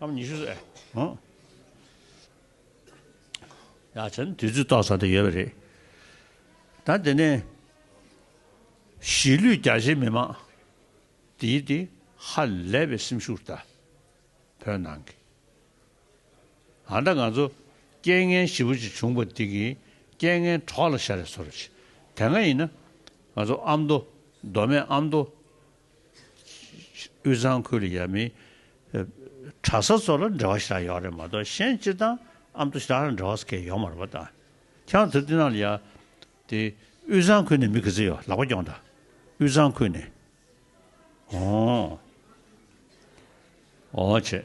Speaker 1: ཨམ་ཉི་ཤུ་ཟད། ཡ་བྱས་ནས་དུས་ཚོད་ཏོག་ཙམ་དེ་ཡོད་པ་རེད། ད་དེ་ནས་གཞིས་ལུས་རྒྱ་ཆེའི་མི་མང་འདིའི་དེ་ཧ་ལས་པའི་སེམས་ཤུགས་དང། བོད་ནང་གི་ཨ་མདའ་ང་ཚོ་རྐྱེན་ངན་བཞི་པོ་ཅིག་བྱུང་པ་འདི་གི་རྐྱེན་ངན་གྲོགས་ལ་ཤ་རེ་ཟོ་རོ་ཞེས་དེ་སྔ་ཡིན་ན་ང་ཚོ་ཨ་མདོ་མདོ་སྨད་ཨ་མདོ་དབུས་གཙང་ཁུལ་ཡ་མི་གྲྭ་ས་ཚོ་ལ་འབྲེལ་བ་ཞེ་དྲག་ཡོད་རེད་མ་གཏོགས་གཞན་སྤྱིར་བཏང་ཨ་མདོ་ཞེ་དྲག་ལ་འབྲེལ་བ་ས་ཁེལ་ཡོད་མ་རེད་པ་ད་ཁྱང་ཐུབ་དེ་ནང་ལ་ཡ་དེ་དབུས་གཙང་ཁུལ་ནས་མི་གི་ཚེ་ཡོད་ལག་པ་རྐྱོང་ད་དབུས་གཙང་ཁུལ་ནས་ཨོ་ཨོ་བྱས།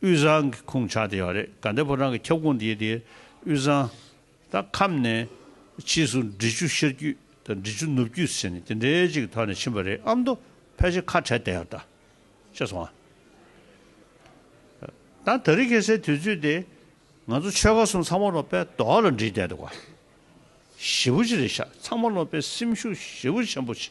Speaker 1: དབུས་གཙང་གི་ཁུངས་ཆགས་དེ་ཡང་རེད་ག་འདས་པོ་རང་གི་ཁྱབ་ཁོངས་དེ་དེ་དབུས་གཙང་དང་ཁམས་ནས་ཕྱིས་སུ་འབྲི་ཆུ་ཤར་རྒྱུད་དང་འབྲི་ཆུ་ནུབ་རྒྱུད་ཟེར་ནས་དེ་འདྲའི་ཅིག་ཐོག་ནས་ཕྱིན་པ་རེད་ཨ་མདོ་ཕལ་ཆེར་ཁ་བྲལ་དེ་ཡང་ད་ཆ་སོང་ཨ། ད་ད་རི་གེ་སའི་དུས་ཚོད་དེ་ང་ཚོ་ཆོལ་ཁ་གསུམ་ཚང་མ་ལོག་པའི་དོགས་ལ་འདྲིས་བསྡད་འདུག་ག་ཞེ་བོ་ཅི་རེད་ཤག་ཚང་མ་ལོག་པའི་སེམས་ཤུགས་ཞེ་བོ་ཆེན་པོ་ཆེ་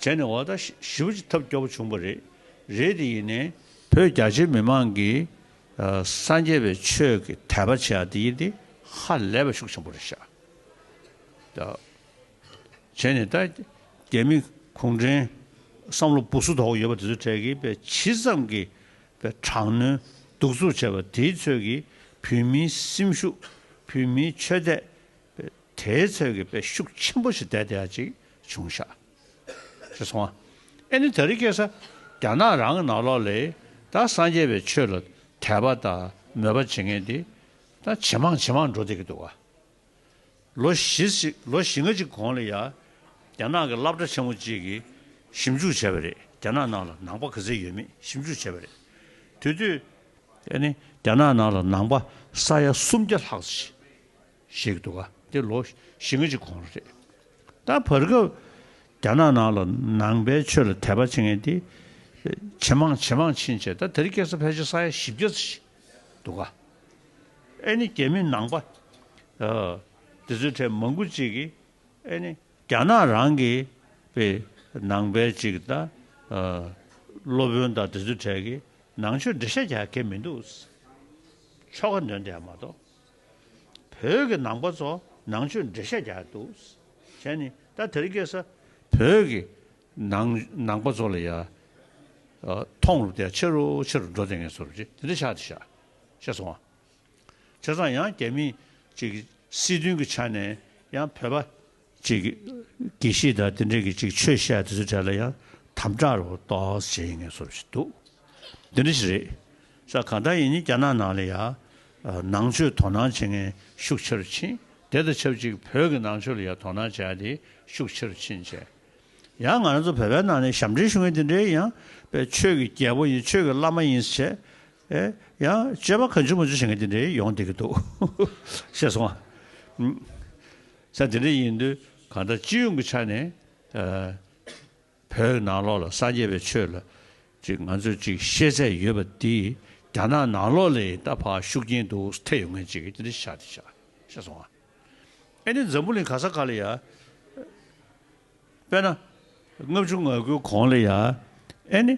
Speaker 1: བྱས་ནས་འོག་ཟླ་བཞི་བོ་ཅིག་ཐབས་སྐྱོ་བོ་བྱུང་བ་རེད། རེད་དེ་ཡིན་ནའི། བོད་རྒྱ་ཆེའི་མི་མང་གིས་སངས་རྒྱས་པའི་ཆོས་ཀྱི་དད་པ་བྱེད་ཡ་དེ་ཡིན་ཏེ་ཧ་ལས་པ་ཤུགས་ཆེན་པོ་རེད་ཤག་བྱས་ནས་ད་རྒྱ་མི་གུང་བྲན་བསམ་བློ་སྦུག་སུ་དོག་ཡོད་པ་དེ་ཚོའི་གྲས་ཀྱི་བས་ཇི་ཙམ་གྱི་བས་དྲག་གནོན་གདུག་རྩུབ་བྱས་པ་དེའི་ཚོད་ཀྱི་བོད་མིའི་སེམས་ཤུགས་བོད་མིའི་ཆོས་དད་བས་དེའི་ཚོད་ཀྱི་བས་ཤུགས་ཆེན་པོ་ཞིག་དད་དེ་ཡ་ཅིག་བྱུང་ཤག། ཞེས་སོང། ཨེ་ནི་ད་རི་ཀས་ས་སྐྱ་ནག་རང་ནག་ལོག་ལས་ད་སངས་རྒྱས་པའི་ཆོས་ལ་དད་པ་དང་མོས་པ་བྱེད་མཁན་དེ་ད་ཇེ་མང་ཇེ་མང་འགྲོ་བསྡད་ཀྱི་འདུག་ཨ། ལོ་བཞི་ལོ་བཞི་ལྔ་གཅིག་གོང་ལ་ཡ་རྒྱ་ནག་གི་བསླབ་གྲྭ་ཆེན་མོ་གཅིག་གིས་ཞིབ་འཇུག་བྱས་པ་རེད་རྒྱ་ནག་ནང་ལ་ནང་པ་ག་ཚད་ཡོད་མེད་ཞིབ་འཇུག་བྱས་པ་རེད། དེ་དུས། ཨེ་ནི་རྒྱ་ནག་ནང་ལ་ནང་པ་ས་ཡ་སུམ་བརྒྱ་ལྷག་ཆེ། ཞིག་འདུག་དེ་ལོ་བཞི་ལྔ་གཅིག་གོང་རེད། ད་བར་སྐབས་རྒྱ་ནག་ནང་ལ་ནང་པའི་ཆོས་ལ་དད་པ་བྱེད་མཁན་དེ་ཇེ་མང་ཇེ་མང་ཕྱིན་ཆད་ད་དེར་སྐྱེས་ས་ཕལ་ཆེར་ས་ཡ་བཞི་བརྒྱ་ཙམ་ཞིག་འདུག་ཨ་ནི་རྒྱ་མི་ནང་པ་དེ་ཚོའི་གྲས་མང་པོ་ཅིག་གིས་ཨ་ནི་རྒྱ་ནག་རང་གི་པའི་ནང་པའི་ཅིག་ད་སློབ་དཔོན་དང་དེ་ཚོའི་གྲས་ཀྱིས་ནང་ཆོས་འབྲེལ་བཤད་རྒྱག་མཁན་མི་འདུག་ཆོ་ག་འདོན་བསྡད་མ་གཏོགས། བོད་ཀྱི་ནང་པ་ཚོ་ནང་ཆོས་འབྲེལ་བཤད་རྒྱག་འདུག་བྱས་ནི་ད་དེར་སྐྱེས་ས། བོད་ཀྱི་ནང་ནང་པ་ཚོ་ལ་ཡ། མཐོང་རུབ་དེ་ཆེ་རུ་ཆེ་རུ་འགྲོ་དེ་ངས་ཚོ་རུབ་ཀྱི་དེ་འདྲ་ཆགས་དེ་ཤག་ཤག་སོང་བ། བྱས་ཙང་ཡང་རྒྱ་མི་གཅིག་གི་སྲིད་དོན་གྱི་ཆ་ནས་ཡང་བོད་པ་གཅིག། དགེ་བཤེས་དང་དེ་འབྲེལ་གྱི་གཅིག་ཆོས་བཤད་དུས་ཚོད་གྲལ་ལ་ཡང་དམ་དྲག་རོགས་ཏོགས་བྱེད་ངེས་བཟོ་བཞིན་འདུག་འདི་འདྲ་ཞིག་རེད། ས་གང་འདྲ་ཡིན་ཡིན་རྒྱ་ནག་ནང་ལ་ཡང་ནང་ཆོས་དོ་སྣང་བྱེད་མཁན་ཤུགས་ཆེར་ཕྱིན་དེ་དང་ཆབས་ཅིག་བོད་ཀྱི་ནང་ཆོས་ལ་ཡང་དོ་སྣང་བྱས་ཏེ་ཤུགས་ཆེར་ཕྱིན་བྱས། ཡང་ང་རང་ཚོ་བོད་པའི་ནང་ནས་ཞབས་འདྲེན་ཞུ་མཁན་དེ་འདྲའི་ཡང་པའི་ཆོས་ཀྱི་རྒྱལ་པོ་ཡིན་ཆོས་ཀྱི་བླ་མ་ཡིན་ཟེར་བྱས། ཡང་སྤྱོད་པ་ག་འཇུག་མ་འཇུག་བྱེད་མཁན་དེ་འདྲའི་ཡོང་བསྡད་ཀྱི་འདུག་ཤེས་སོང་ངམ། ས་དེ་འདྲ་ཡིན་དུས་གང་ལྟར་སྤྱི་ཡོངས་ཀྱི་ཆ་ནས་བོད་ནང་ལོགས་ལ་སངས་རྒྱས་པའི་ཆོས་ལ་ཅིག་ང་ཚོས་ཅིག་ཤེས་ཚད་ཡོད་པ་དེ་རྒྱ་ནག་ནང་ལོགས་ལས་ཡིན་སྟབས་ཧ་ཤུགས་རྐྱེན་འདུག་ས་ཐད་ཡོད་མཁན་ཅིག་གིས་དེ་འདྲ་བྱ་དེ་བྱ་བཤད་སོང་ཨ། ཨེ་ནི་འཛམ་བུ་གླིང་ག་ས་ག་ལ་ཡ། དཔེར་ན། ལྔ་བཅུ་ང་དགུའི་གོང་ལ་ཡ། ཨེ་ནི།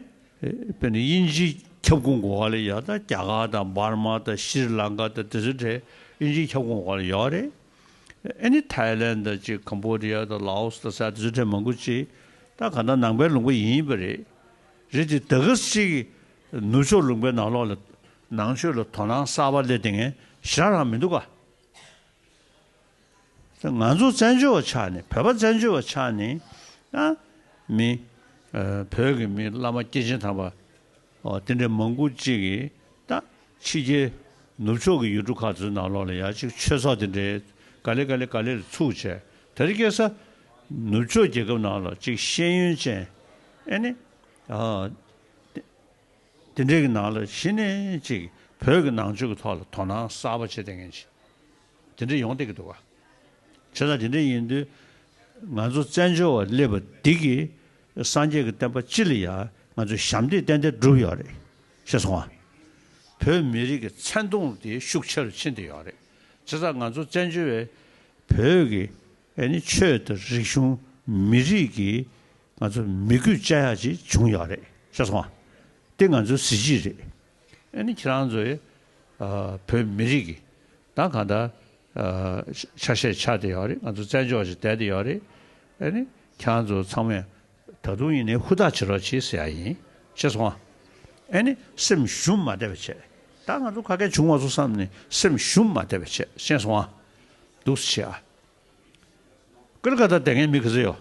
Speaker 1: དཔེར་ན་དབྱིན་ཇིའི་ཁྱབ་ཁོངས་གོ་ག་ལ་ཡ་ད་རྒྱ་གར་དང་འབར་མ་དང་ཤྲི་ལང་ཀ་དང་དེ་ཚོའི་གྲས་དབྱིན་ཇིའི་ཁྱབ་ཁོངས་གོ་ག་ལ་ཡོད་རེད། ཨེ་ནི་ཐའི་ལན་དང་གཅིག་ཁམ་བྷོ་རི་ཡ་དང་ལ་ཨོ་སི་དང་སའི་ཛུ་ཐེན་མང་པོ་གཅིག་ད་ག་ནང་ནང་པའི་ལུང་པ་ཡིན་ཡིན་པ་རེད་རེད་དེ་ད་གི་གཅིག་ནུབ་ཕྱོགས་ལུང་པའི་ནང་ལོག་ལ་ནང་ཆོས་ལ་དོ་སྣང་གསར་པ་སླེབས་དེ་ངས་ཞེ་རང་མི་འདུག་ག་ད་ང་ཚོ་བཙན་བྱོལ་བ་ཆགས་ནས་བོད་པ་བཙན་བྱོལ་བ་ཆགས་ནས་ཨ་མི་བོད་ཀྱི་མི་བླ་མ་སྐྱེས་ཆེན་དམ་པ་དེ་འདྲའི་མང་པོ་ཅིག་གིས་ད་ཕྱི་རྒྱལ་ནུབ་ཕྱོགས་ཀྱི་ཡུལ་གྲུ་ཁག་ཚོའི་ནང་ལོགས་ལ་ཡག་ཅིག་ཆོས་ཚོགས་དེ་འདྲའི་ག་ལེ་ག་ལེ་ག་ལེར་ཚུགས་བྱས་དེ་རེ་སྐྱེས་ས་ནུབ་ཕྱོགས་རྒྱལ་ཁབ་ནང་ལ་ཅིག་ཤེས་ཡོན་ཅན་ཨེ་ནི་དེ་འདྲའི་གི་ནང་ལ་ཕྱིན་ནས་ཅིག་བོད་ཀྱི་ནང་ཆོས་ཀྱི་ཐོག་ལ་དོ་སྣང་གསར་པ་བྱེད་དེ་ངན་ཅིག་དེ་འདྲ་ཡོང་སྡད་ཀྱི་འདུག་ག། བྱས་ཙང་དེ་འདྲ་ཡིན་དུས་ང་ཚོ་བཙན་བྱོལ་བ་སླེབས་པ་འདི་གིས་སངས་རྒྱས་ཀྱི་བསྟན་པ་ཅི་ལ་ཡ་ང་ཚོས་ཞབས་འདེགས་ཏན་ཏན་བསྒྲུབས་ཡོད་རེད་ཤེས་སོང་ང། བོད་མི་རིགས་ཀྱི་མཚན་མཐོང་དེ་ཤུགས་ཆེ་རུ་ཕྱིན་ཏེ་ཡོད་རེད་བྱས་ཙང་ང་ཚོ་བཙན་བྱོལ་བའི་བོད་ཀྱི་ཆོས་དང་རིག་གཞུང་མི་རིགས་ཀྱི་ང་ཚོ་མི་རྒུད་བཅའ་ཡག་ཅིག་བྱུང་ཡོད་རེད་ཤེས་སོང་ང། དེ་ང་ཚོའི་གཟི་བརྗིད་རེད། ཨེ་ནི་ཁྱེད་རང་ཚོའི་བོད་མི་རིགས་ཀྱི་ད་གང་ལྟར་ཆ་ཤས་ཆགས་ཏེ་ཡོད་རེད་ང་ཚོ་བཙན་བྱོལ་ཞིག་དད་དེ་ཡོད་རེད་ཨེ་ནི་ཁྱེད་རང་ཚོ་ཚང་མས་ད་དུང་ཡིན་ནའི་ཧུར་ཐག་བྱེད་རོགས་བྱེད་ཟེར་ཡ་ཡིན་ཤེས་སོང་ཨ་ཨེ་ནི་སེམས་ཞུམ་མ་བསྡད་པའི་ཆེད་ད་ང་ཚོ་ཁ་སྐད་བྱུང་བ་ཚོ་བསམ་ནས་སེམས་ཞུམ་མ་བསྡད་པའི་ཆེད་ཤེས་སོང་ཨ་སྡུག་བྱེད་ཨ་ཀི་རི་ཀ་ད་དེ་ངའི་མི་ཁི་ཟེ་ཡོད།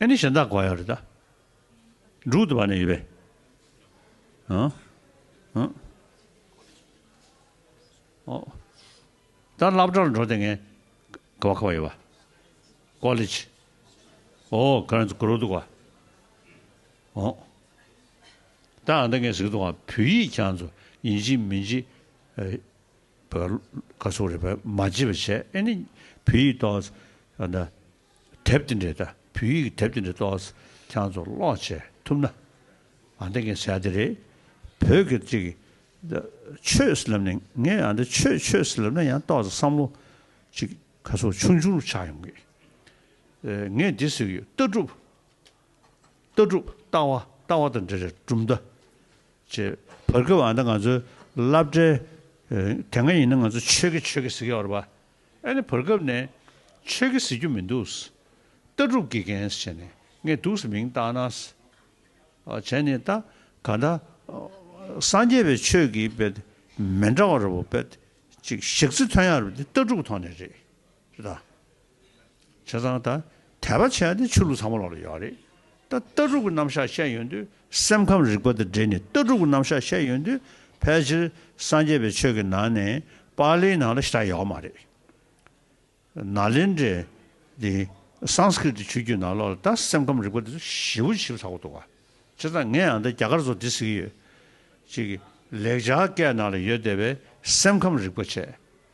Speaker 1: ཨེ་ནི་གཞན་དག་གོ་ཡང་རེ་ད། འབྲུག་ཏུ་བ་ནས་ཡོད་པའི། ཨ། ཨ། ཨོ། ད་བླ་བྲག་ལ་འགྲོ་དེ་ངའི། ག་བ་ཁ་བ་ཡོད་པ། ཀོ་ལི་ཆི། ཨོ་ཀ་རན་ཚོ་གུ་རོ་འདུག་བ། ཨོ། ད་ཨ་ད་ངས་ཟིག་འདུག་བ་བོད་ཡིག་ཀྱང་ཚོ་ཡིན་ཅིག་མིན་ཅིག། བོད་ཀྱི་ཀ་སུག་རེད་བོད་མ་བྱིས་པ་བྱས་ཨེ་ནི་བོད་ཡིག་ཏོག་ཨ་ན་དེབ་དེ་འདྲས་ད་བོད་ཡིག་གི་དེབ་དེ་འདྲས་ཏོག་ཨ་ཁྱང་ཚོ་ཀློག་བྱས་ཐུབ་ན་ཨ་འདི་ངས་ཟེར་དེ་རེད་བོད་ཀྱི་ཅིག་ཨ་ཆོས་ཟེར་ལབ་ནས་ངས་ཨ་འདི་ཆོས་ཆོས་ཟེར་ལབ་ན་ཡང་ཏོག་ཨ་བསམ་བློ་ཅིག་ཁ་སུག་ཆུང་ཆུང་རུ་ཆགས་ཡོང་གི་ཨ་ངས་འདི་ཟེར་གི་ཡོད་ལྟ་གྲུབ་ལྟ་གྲུབ་ལྟ་བ་ལྟ་བ་དང་འབྲེལ་བའི་གྲུབ་མཐའ་བཅས་བར་སྐབས་འང་ད་ང་ཚོའི་བསླབ་གྲྭའི་དེ་སྔ་ཡིན་ན་ང་ཚོ་ཆོས་ཀྱི་ཆོས་ཀྱི་ཟེར་གི་བར་པ་ཨ་ནི་བར་སྐབས་ནས་ཆོས་ཀྱི་ཟེར་རྒྱུ་མི་འདུག་ལྟ་གྲུབ་ཀྱི་རྒན་བྱས་ནས་ངས་འདུག་སེ་མིང་བཏགས་ན་བྱས་ནས་ད་ག་ད་སངས་རྒྱས་པའི་ཆོས་ཀྱི་པདྨེ་འདྲ་བ་ར་བ་པདཅིག་ཞག་རྩི་ཐོན་ཡ་རབས་དེ་ལྟ་གྲུབ་ཐོག་ནས་རེད། དང། བྱས་ཙང་ད་དད་པ་བྱས་ཏེ་ཆོས་ལུགས་ཚང་མ་ལོག་ལ་ཡོད་རེད་ད་ལྟ་ལྟ་གྲུབ་ཀྱི་རྣམ་གཞག་བཤད་ཡོད་དུས་སེམས་ཁམས་རིག་པ་དང་འབྲེལ་ནས་ལྟ་གྲུབ་ཀྱི་རྣམ་གཞག་བཤད་ཡོད་དུས་ཕལ་ཆེར་སངས་རྒྱས་པའི་ཆོས་ཀྱི་ནང་ནས་པཱ་ལིའི་ནང་ལ་ཞེ་དྲག་ཡོད་མ་རེད། ན་ལེན་དྲའི། དེ Sanskrit ཆོས་བརྒྱུད་ནང་ལོག་ལ་ད་སེམས་ཁམས་རིག་པ་དེ་ཚོ་ཞིབ་བོ་ཞིབ་ཚགས་པོ་འདུག་བ། བྱས་ཙང་ངས་ཡང་ད་རྒྱ་གར་ཚོ་འདི་ཟེར་གྱི་ཡོད། ཅིག་ལེགས་སྦྱར་སྐད་ནང་ལ་ཡོད་བསྡད་པའི་སེམས་ཁམས་རིག་པ་བྱས།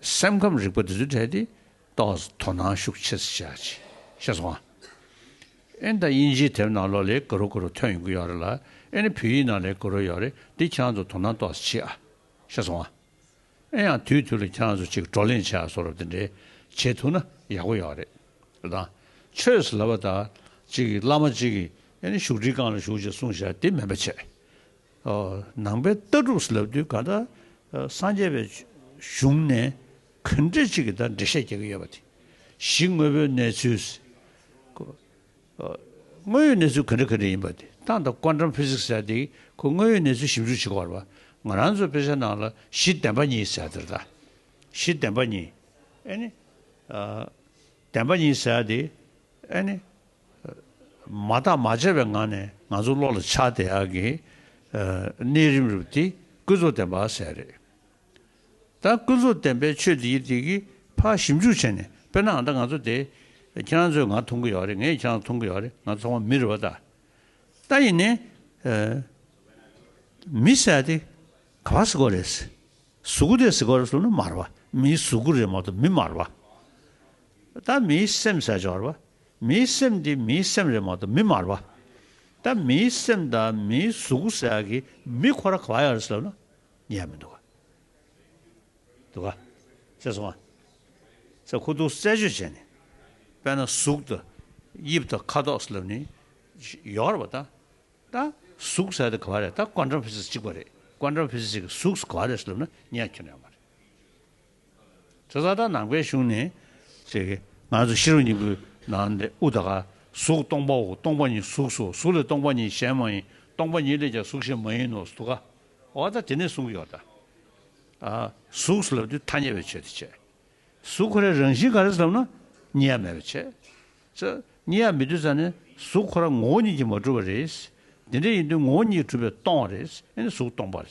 Speaker 1: སེམས་ཁམས་རིག་པ་འདི་ཚོ་བྲལ་ཏེ་རྟོགས་དོ་སྣང་ཤུགས་ཆེ་བྱ་ཆེ་ཤེས་སོང་ཨ། ཨེ་ད་དབྱིན་ཇིའི་དེབ་ནང་ལོ་ལེགས་གུ་རུ་གུ་རུ་ཐོན་ཡོང་གི་ཡོག་རེད་ལ་ཨེ་ནི་བོད་ཡིག་ནང་ལེགས་གུ་རུ་ཡོག་རེད་འདི་ཁྱང་ཚོ་དོ་སྣང་རྟོགས་ཆེ་ཨ་ཤེས་སོང་ཨ། ཨེ་ཡང་དུས་དུས་ལ་ཁྱང་ཚོ་གཅིག་བགྲོ་གླེང་བྱ་གསོ་རོགས་དེ་འདྲའི་བྱེད་ཐུག་ན་ཡག་པོ་ཡོག་རེད་ཨ། ཆོས་ལབ་པ་དང་གཅིག་བླ་མ་གཅིག་གིས་ཨེ་ནི་བཞུགས་ཁྲི་རྐང་ལ་བཞུགས་ཅེས་གསུངས་བཞག་དེ་མིན་པ་བྱས། ནང་པའི་ལྟ་གྲུབ་ལབ་དུས་ག་ད་སངས་རྒྱས་པའི་གཞུང་ནས་གང་འགྲེལ་གཅིག་གི་ད་འགྲེལ་བཤད་རྒྱག་གི་ཡོད་པ་དེ་གཞི་དངོས་པོའི་གནས་ཚུལ་དངོས་ཡོད་གནས་ཚུལ་གང་འདྲ་གང་འདྲ་ཡིན་པ་དེ་ཏང་དང་ཀོ་འགྲམ Physics ཟེར་དེ་ཁོ་དངོས་ཡོད་གནས་ཚུལ་ཞིབ་འཇུག་བྱེད་གོར་བ་ང་རང་ཚོའི་དཔེ་ཆ་ནང་ལ་གཞི་བདེན་པ་གཉིས་ཟེར་དེར་ད་གཞི་བདེན་པ་གཉིས་ཨེ་ནི་བདེན་པ་གཉིས་ཟེར་དེ་ཨེ་ནི་མ་བརྟག་མ་དཔྱད་པའི་ངང་ནས་ང་ཚོ་བློ་ལ་འཆར་བདེ་ཡག་གི་གནས་རིམ་རུབ་དེ་ཀུན་རྫོབ་བདེན་པ་ཟེར་རེད་ད་ཀུན་རྫོབ་བདེན་པའི་ཆོས་འདི་ཡི་དེ་གི་ཕ་ཞིབ་འཇུག་བྱས་ནས་དཔེར་ན་ད་ང་ཚོ་དེ་ཁྱེད་རང་ཚོས་ང་མཐོང་གི་ཡོག་རེད་ངས་ཁྱེད་རང་མཐོང་གི་ཡོག་རེད་ང་ཚོ་ཚང་མ་མི་རེད་བ་ད་ད་ཡིན་ནས་མི་ཟས་དེ་ག་བ་ཟི་གོ་རེད་ཟི་གུ་དེ་ཟི་གོ་རེད་ཟུར་ན་མར་བ་མིའི་ཟུར་གུ་རེད་མ་ཏོ་མི་མར་བ་ད་མིའི་སེམས་ཟས་ཆོག་རེད་བ་མིའི་སེམས་དེ་མིའི་སེམས་རེད་མ་གཏོགས་མི་མར་བ། ད་མིའི་སེམས་དང་མིའི་གཟུགས་ཟེར་ཡག་གི་མི་ཁོ་ར་ག་བ་ཡག་རེད་ཟེར་ན་ཉན་ཡ་མི་འདུག་ག་འདུག་ག། ཤེས་སོང་ང་ཚ་ཁུ་ཐུག་རྩད་གཅོད་བྱས་ནས་དཔེ་ན་གཟུགས་དང་དབྱིབས་དང་ཁ་དོག་ཟེར་ལབ་ནི་ཡོག་རེད་བ་ད། ད་གཟུགས་ཟེར་དེ་ག་བ་རེད་ད་ཀོན་ཀྲམ་ཕི་སི་གཅིག་པ་རེད་ཀོན་ཀྲམ་ཕི་སི་གཅིག་གི་གཟུགས་ག་བ་རེད་ཟེར་ལབ་ན་ཉན་ཁྱོད་ཡག་མ་རེད། ཚེ་བཟའ་ཟླ་ནང་པའི་གཞུང་ནས། ཅེས་ཀྱི། ང་ཚོ་ཤེས་རབ་སྙིང་པོའི་ནང་ནས་ཨུ་ད་ག། གཟུགས་སྟོང་པའོ་སྟོང་པ་ཉིད་གཟུགས་སོ་གཟུགས་ལས་སྟོང་པ་ཉིད་གཞན་མ་ཡིན་སྟོང་པ་ཉིད་ལས་ཀྱང་གཟུགས་གཞན་མ་ཡིན་ནོ་ཟླུ་ག། འོ་ད་དེ་ནས་གསུངས་ཀྱི་ཡོད་དཱ། གཟུགས་ལབ་དུས་ཐ་སྙད་པའི་ཆོས་དེ་བྱས། གཟུགས་ཁོ་རའི་རང་བཞིན་ག་རེ་ཟབ་ན། གཉིས་ཡ་མེད་པ་བྱས། ཅེས། གཉིས་ཡ་མི་འདུས་ཙང་ནི་གཟུགས་ཁོ་ར་ངོ་བོ་ཉིད་ཀྱིས་མ་གྲུབ་པ་རེད། དེ་འདྲ་ཡིན་དུས་ངོ་བོ་ཉིད་གྲུབ་པའི་སྟོང་བ་རེད། ཨེ་ནི་གཟུགས་སྟོང་པ་རེད།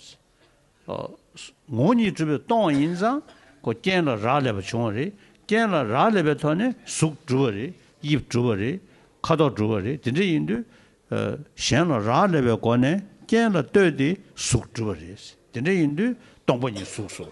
Speaker 1: ངོ་གཉིས་སྤྲུལ་པའི་སྟོང་བ་ཡིན་ཙང་ཁོ་རྐྱེན་ལ་རག་ལས་པ་བྱུང་བ་རེད། རྐྱེན་ལ་རག་ལས་པའི་ཐོག་ནས་གཟུགས་གྲུབ་པ་རེད་དབྱིབས་གྲུབ་པ་རེད་ཁ་དོག་གྲུབ་པ་རེད་དེ་འདྲ་ཡིན་དུས། གཞན་ལ་རག་ལས་པའི་སྒོ་ནས་རྐྱེན་ལ་ལྟོས་ཏེ་གཟུགས་གྲུབ་པ་རེད་དེ་འདྲ་ཡིན་དུས་སྟོང་པ་ཉིད་གཟུགས་སོ།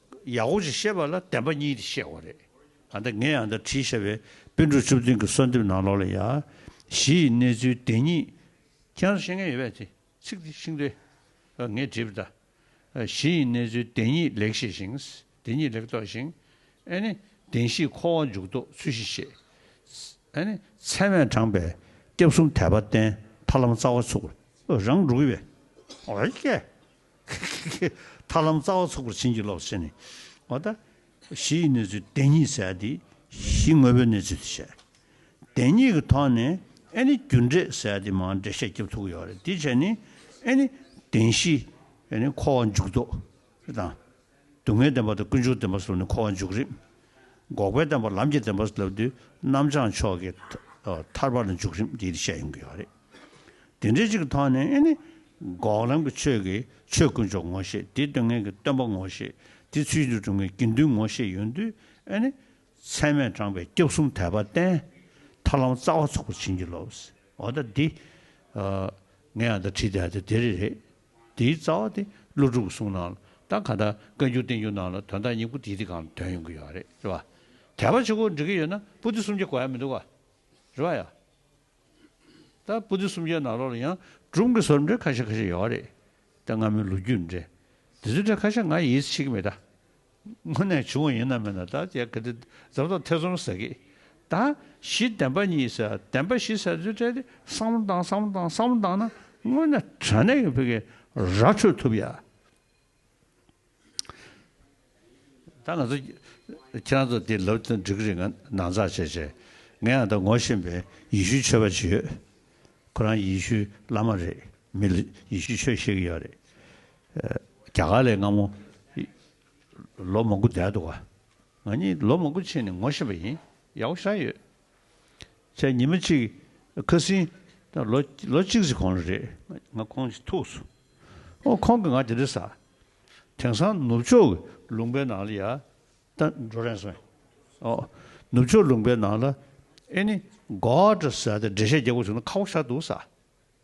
Speaker 1: ཡག་པོ་ཞིག་བཤད་པ་ལ་བདེན་པ་གཉིས་དེ་བཤད་དགོས་རེད། ད་ལྟ་ངས་ཡང་དག་བྲིས་བཞག་པའི་དཔེ་འབྲུ་བཅུ་བདུན་གྱི་གསོལ་འདེབས་ནང་ལོགས་ལ་ཡང་གཞི་ཡི་གནས་ཚུལ་བདེན་གཉིས་ཁྱེད་རང་ཤེས་མཁན་ཡོད་པས་དེ་ཚིག་དེ་ཤིང་རྟའི་ངས་བྲིས་པ་ལྟར་གཞི་ཡི་གནས་ཚུལ་བདེན་གཉིས་ལེགས་ཤེས་ཤིང་བདེན་གཉིས་ལེགས་རྟོགས་ཤིང་ཨེ་ནི་བདེན་བཞི་འཁོར་བ་འཇུག་ལྡོག་ཚུལ་བཞིན་ཤེས་ཨེ་ནི་ཚད་མས་དྲངས་པའི་སྐྱབས་གསུམ་དད་པ་བརྟན་མཐའ་ལམ་རྩ་བ་ཚུགས་རང་འགྲོ་གི་བས། ཁི་ཁི་ཁི། ཐར་ལམ་རྩ་བ་ཚོགས་པར་བྱིན་གྱིས་རློབས། ཞེས་ནི། བ་ད། གཞི་ཡི་གནས་ཚུལ་བདེན་གཉིས་གསལ་ཏེ། གཞི་དངོས་པོའི་གནས་ཚུལ་དུ་བཤད། བདེན་གཉིས་ཀྱི་ཐོག་ནས་ཨེ་ནི་རྒྱུ་འབྲས་གསལ་ཏེ་མ་འབྲས་བཤད་རྒྱབ་ཐུག་ཡོད་རེད་དེའི་ཕྱིར་ནི། ཨེ་ནི། བདེན་བཞི། ཨེ་ནི་འཁོར་བ་འཇུག་ལྡོག། དང། སྡུག་བསྔལ་བདེན་པ་དང་ཀུན་འབྱུང་བདེན་པ་སོགས་ནི་འཁོར་བ་མཇུག་རིམ། འགོག་པའི་བདེན་པ་ལམ་གྱི་བདེན་པ་སོགས་ལྟ་བུ་འདི་རྣམ་བྱང་ཕྱོགས་ཀྱི་ཐར་པ་ལ་མཇུག་རིམ་དེ་ཡིད་ཆེས་ཡོང་གི་ཡོད་རེད། དེ་འདྲའི་ཅིག་གི་ཐོག་ནས་ནི། འགོག་ལམ་གྱི་ཆོས་ཀྱི་ཆོས་ཀུན་ཕྱོགས་ངོ་ཤེས་དེ་སྟོན་མཁན་གྱི་སྟོན་པ་ངོ་ཤེས་དེ་ཚུལ་གྱིས་གྲུབ་མཁན་དགེ་འདུན་ངོ་ཤེས་ཡོད་དུས་ནི། ཚད་མས་དྲངས་པའི་སྐྱབས་གསུམ་དད་པ་བརྟེན། ཐར་ལམ་རྩ་བ་ཚུགས་པར་བྱིན་གྱིས་རློབས། འོ་ད་འདི། ངས་ཡང་དག་བྲིས་དེ་ཡང་དག་དེ་རེད། དེའི་རྩ་བ་དེ་ཀླུ་སྒྲུབ་གསུང་ནང་ལ་དང་གང་དག་བཀའ་འགྱུར་བསྟན་འགྱུར་ནང་ལ་དོན་དག་སྙིང་པོ་དེའི་དེ་གང་དོན་ཡོང་གི་ཡོད་རེད་རེད་བ། དད་པ་ཆོས་འཁོར་འགྲིག་གི་ཡོད་ན་པུ་ཏི་སུམ་བརྒྱ་གོ་ཡ་མི་འདུག་བ། རེད་བ་ཡ། ད་པུ་ཏི་སུམ་བརྒྱའི་ནང་ལོགས་ལ་ཡང་སྒྲུང་གི་སོར་འབྲེལ་ཁ་ཤས་ཁ་ཤས་ཡོད་རེད་དེ་སྔ་མོའི་ལོ་རྒྱུས་འདྲེ་དེ་ཚོའི་འདྲེ་ཁ་ཤས་ང་ཡིད་ཆེས་ཀི་མེད་ད། སྔོན་ནས་བྱུང་བ་ཡིན་ནམ་མིན་ནམ་ད་ཅེས་གལ་ཏེ་འཛམ་ཐང་ཐེ་ཚོམ་ཟེར་གི། ད་གཞི་བདེན་པ་གཉིས་ཟེར་བདེན་པ་བཞི་ཟེར་ཚུལ་བཀྲལ་ཏེ་བསམ་བློ་བཏང་བསམ་བློ་བཏང་བསམ་བློ་བཏང་ན་དངོས་གནས་དྲ་གནས་ཀྱི་བོད་ཀྱི་ར་འཕྲོད་ཐུབ་ཡ། ད་ང་ཚོ་ཁྱེད་རང་ཚོ་དེ་ལབ་ཏུ་འགྲིག་གི་རེད་ང་ནང་འཛག་བྱས་བྱས་ང་ཡང་ད་ངོ་ཤེས་པའི་ཡེ་ཤུའི་ཆོས་པ་གཅིག་ཡོད་ཁོ་རང་ཡེ་ཤུའི་བླ་མ་རེད་མི་ལ་ཡེ་ཤུའི་ཆོས་ཤེས་གི་ཡོད་རེད་རྒྱ་གར་ལས་སྔ་མོ། ལོ་མང་པོ་འདས་འདུག་ག། ང་གཉིས་ལོ་མང་པོ་ཕྱིན་ནས་ངོ་ཤེས་པ་ཡིན། ཡའོ་ཞའོ་ཡོད། ཚེ་ཉི་མ་གཅིག་ཁ་སིན། ལོ་ལོ་གཅིག་ཟིག་གོང་ལ་རེད། ང་ཁོང་གཅིག་ཐུག་སོང། ཨོ་ཁོང་གིས་ང་དེ་འདྲ་ཟ། དེང་སང་ནུབ་ཕྱོགས་ཀྱི་ལུང་པའི་ནང་ལ་ཡ། ད་འགྲོ་རན་སོང། ཨོ། ནུབ་ཕྱོགས་ལུང་པའི་ནང་ལ། ཨེ་ནི། གོ་ཨར་ཏྲ་ཟ་སྟེ་འགྲེལ་བཤད་རྒྱག་དགོས་བྱུང་ན་ཁ་བོ་ཤར་འདུག་ཟ།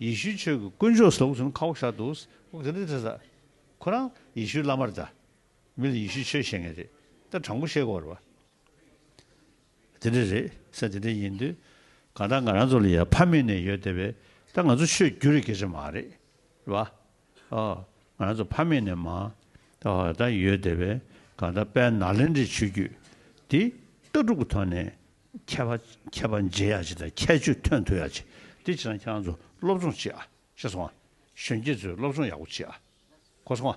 Speaker 1: ཡེ་ཤུའི་ཆོས་ཀྱི་དཀོན་མཆོག་སོགས་ཚུན་ཁ་བོ་ཤ་འདུག། ཁོ་རང་ཡེ་ཤུའི་བླ་མར་གདའ། མི་ལ་ཡེ་ཤུའི་ཆོས་བཤད་མཁན་རེད་ད་དྲང་པོ་བཤད་དགོས་རེད། དེ་འདྲ་རེད་ས་དེ་འདྲ་ཡིན་དུས་གང་ལྟར་ང་རང་ཚོ་ལ་ཡ་ཕ་མེད་ནས་ཡོད་བསྡད་པས་ད་ང་ཚོ་ཆོས་བརྒྱུད་རེ་དགེ་རེ་མ་རེད་བ། ང་ཚོ་ཕ་མེས་ནས་མ་ད་ཡོད་དེ་བས་ག་ད་དཔལ་ནཱ་ལེནྡྲའི་ཆོས་བརྒྱུད་འདི་ལྟ་གྲུབ་ཀྱི་ཐོག་ནས་མཁས་པ་མཁས་པ་མཇལ་ཡག་བྱེད་དང་ཁྱད་ཆོས་ཐོན་ཐུབ་ཡག་བྱེད་དེ་བྱེད་ན་ཁྱེད་རང་ཚོ་སློབ་སྦྱོང་བྱེད་ཨ་ཤེས་སོང་ཨ་གཞོན་སྐྱེས་ཚོས་སློབ་སྦྱོང་ཡག་པོ་བྱེད་ཨ་གོ་སོང་ཨ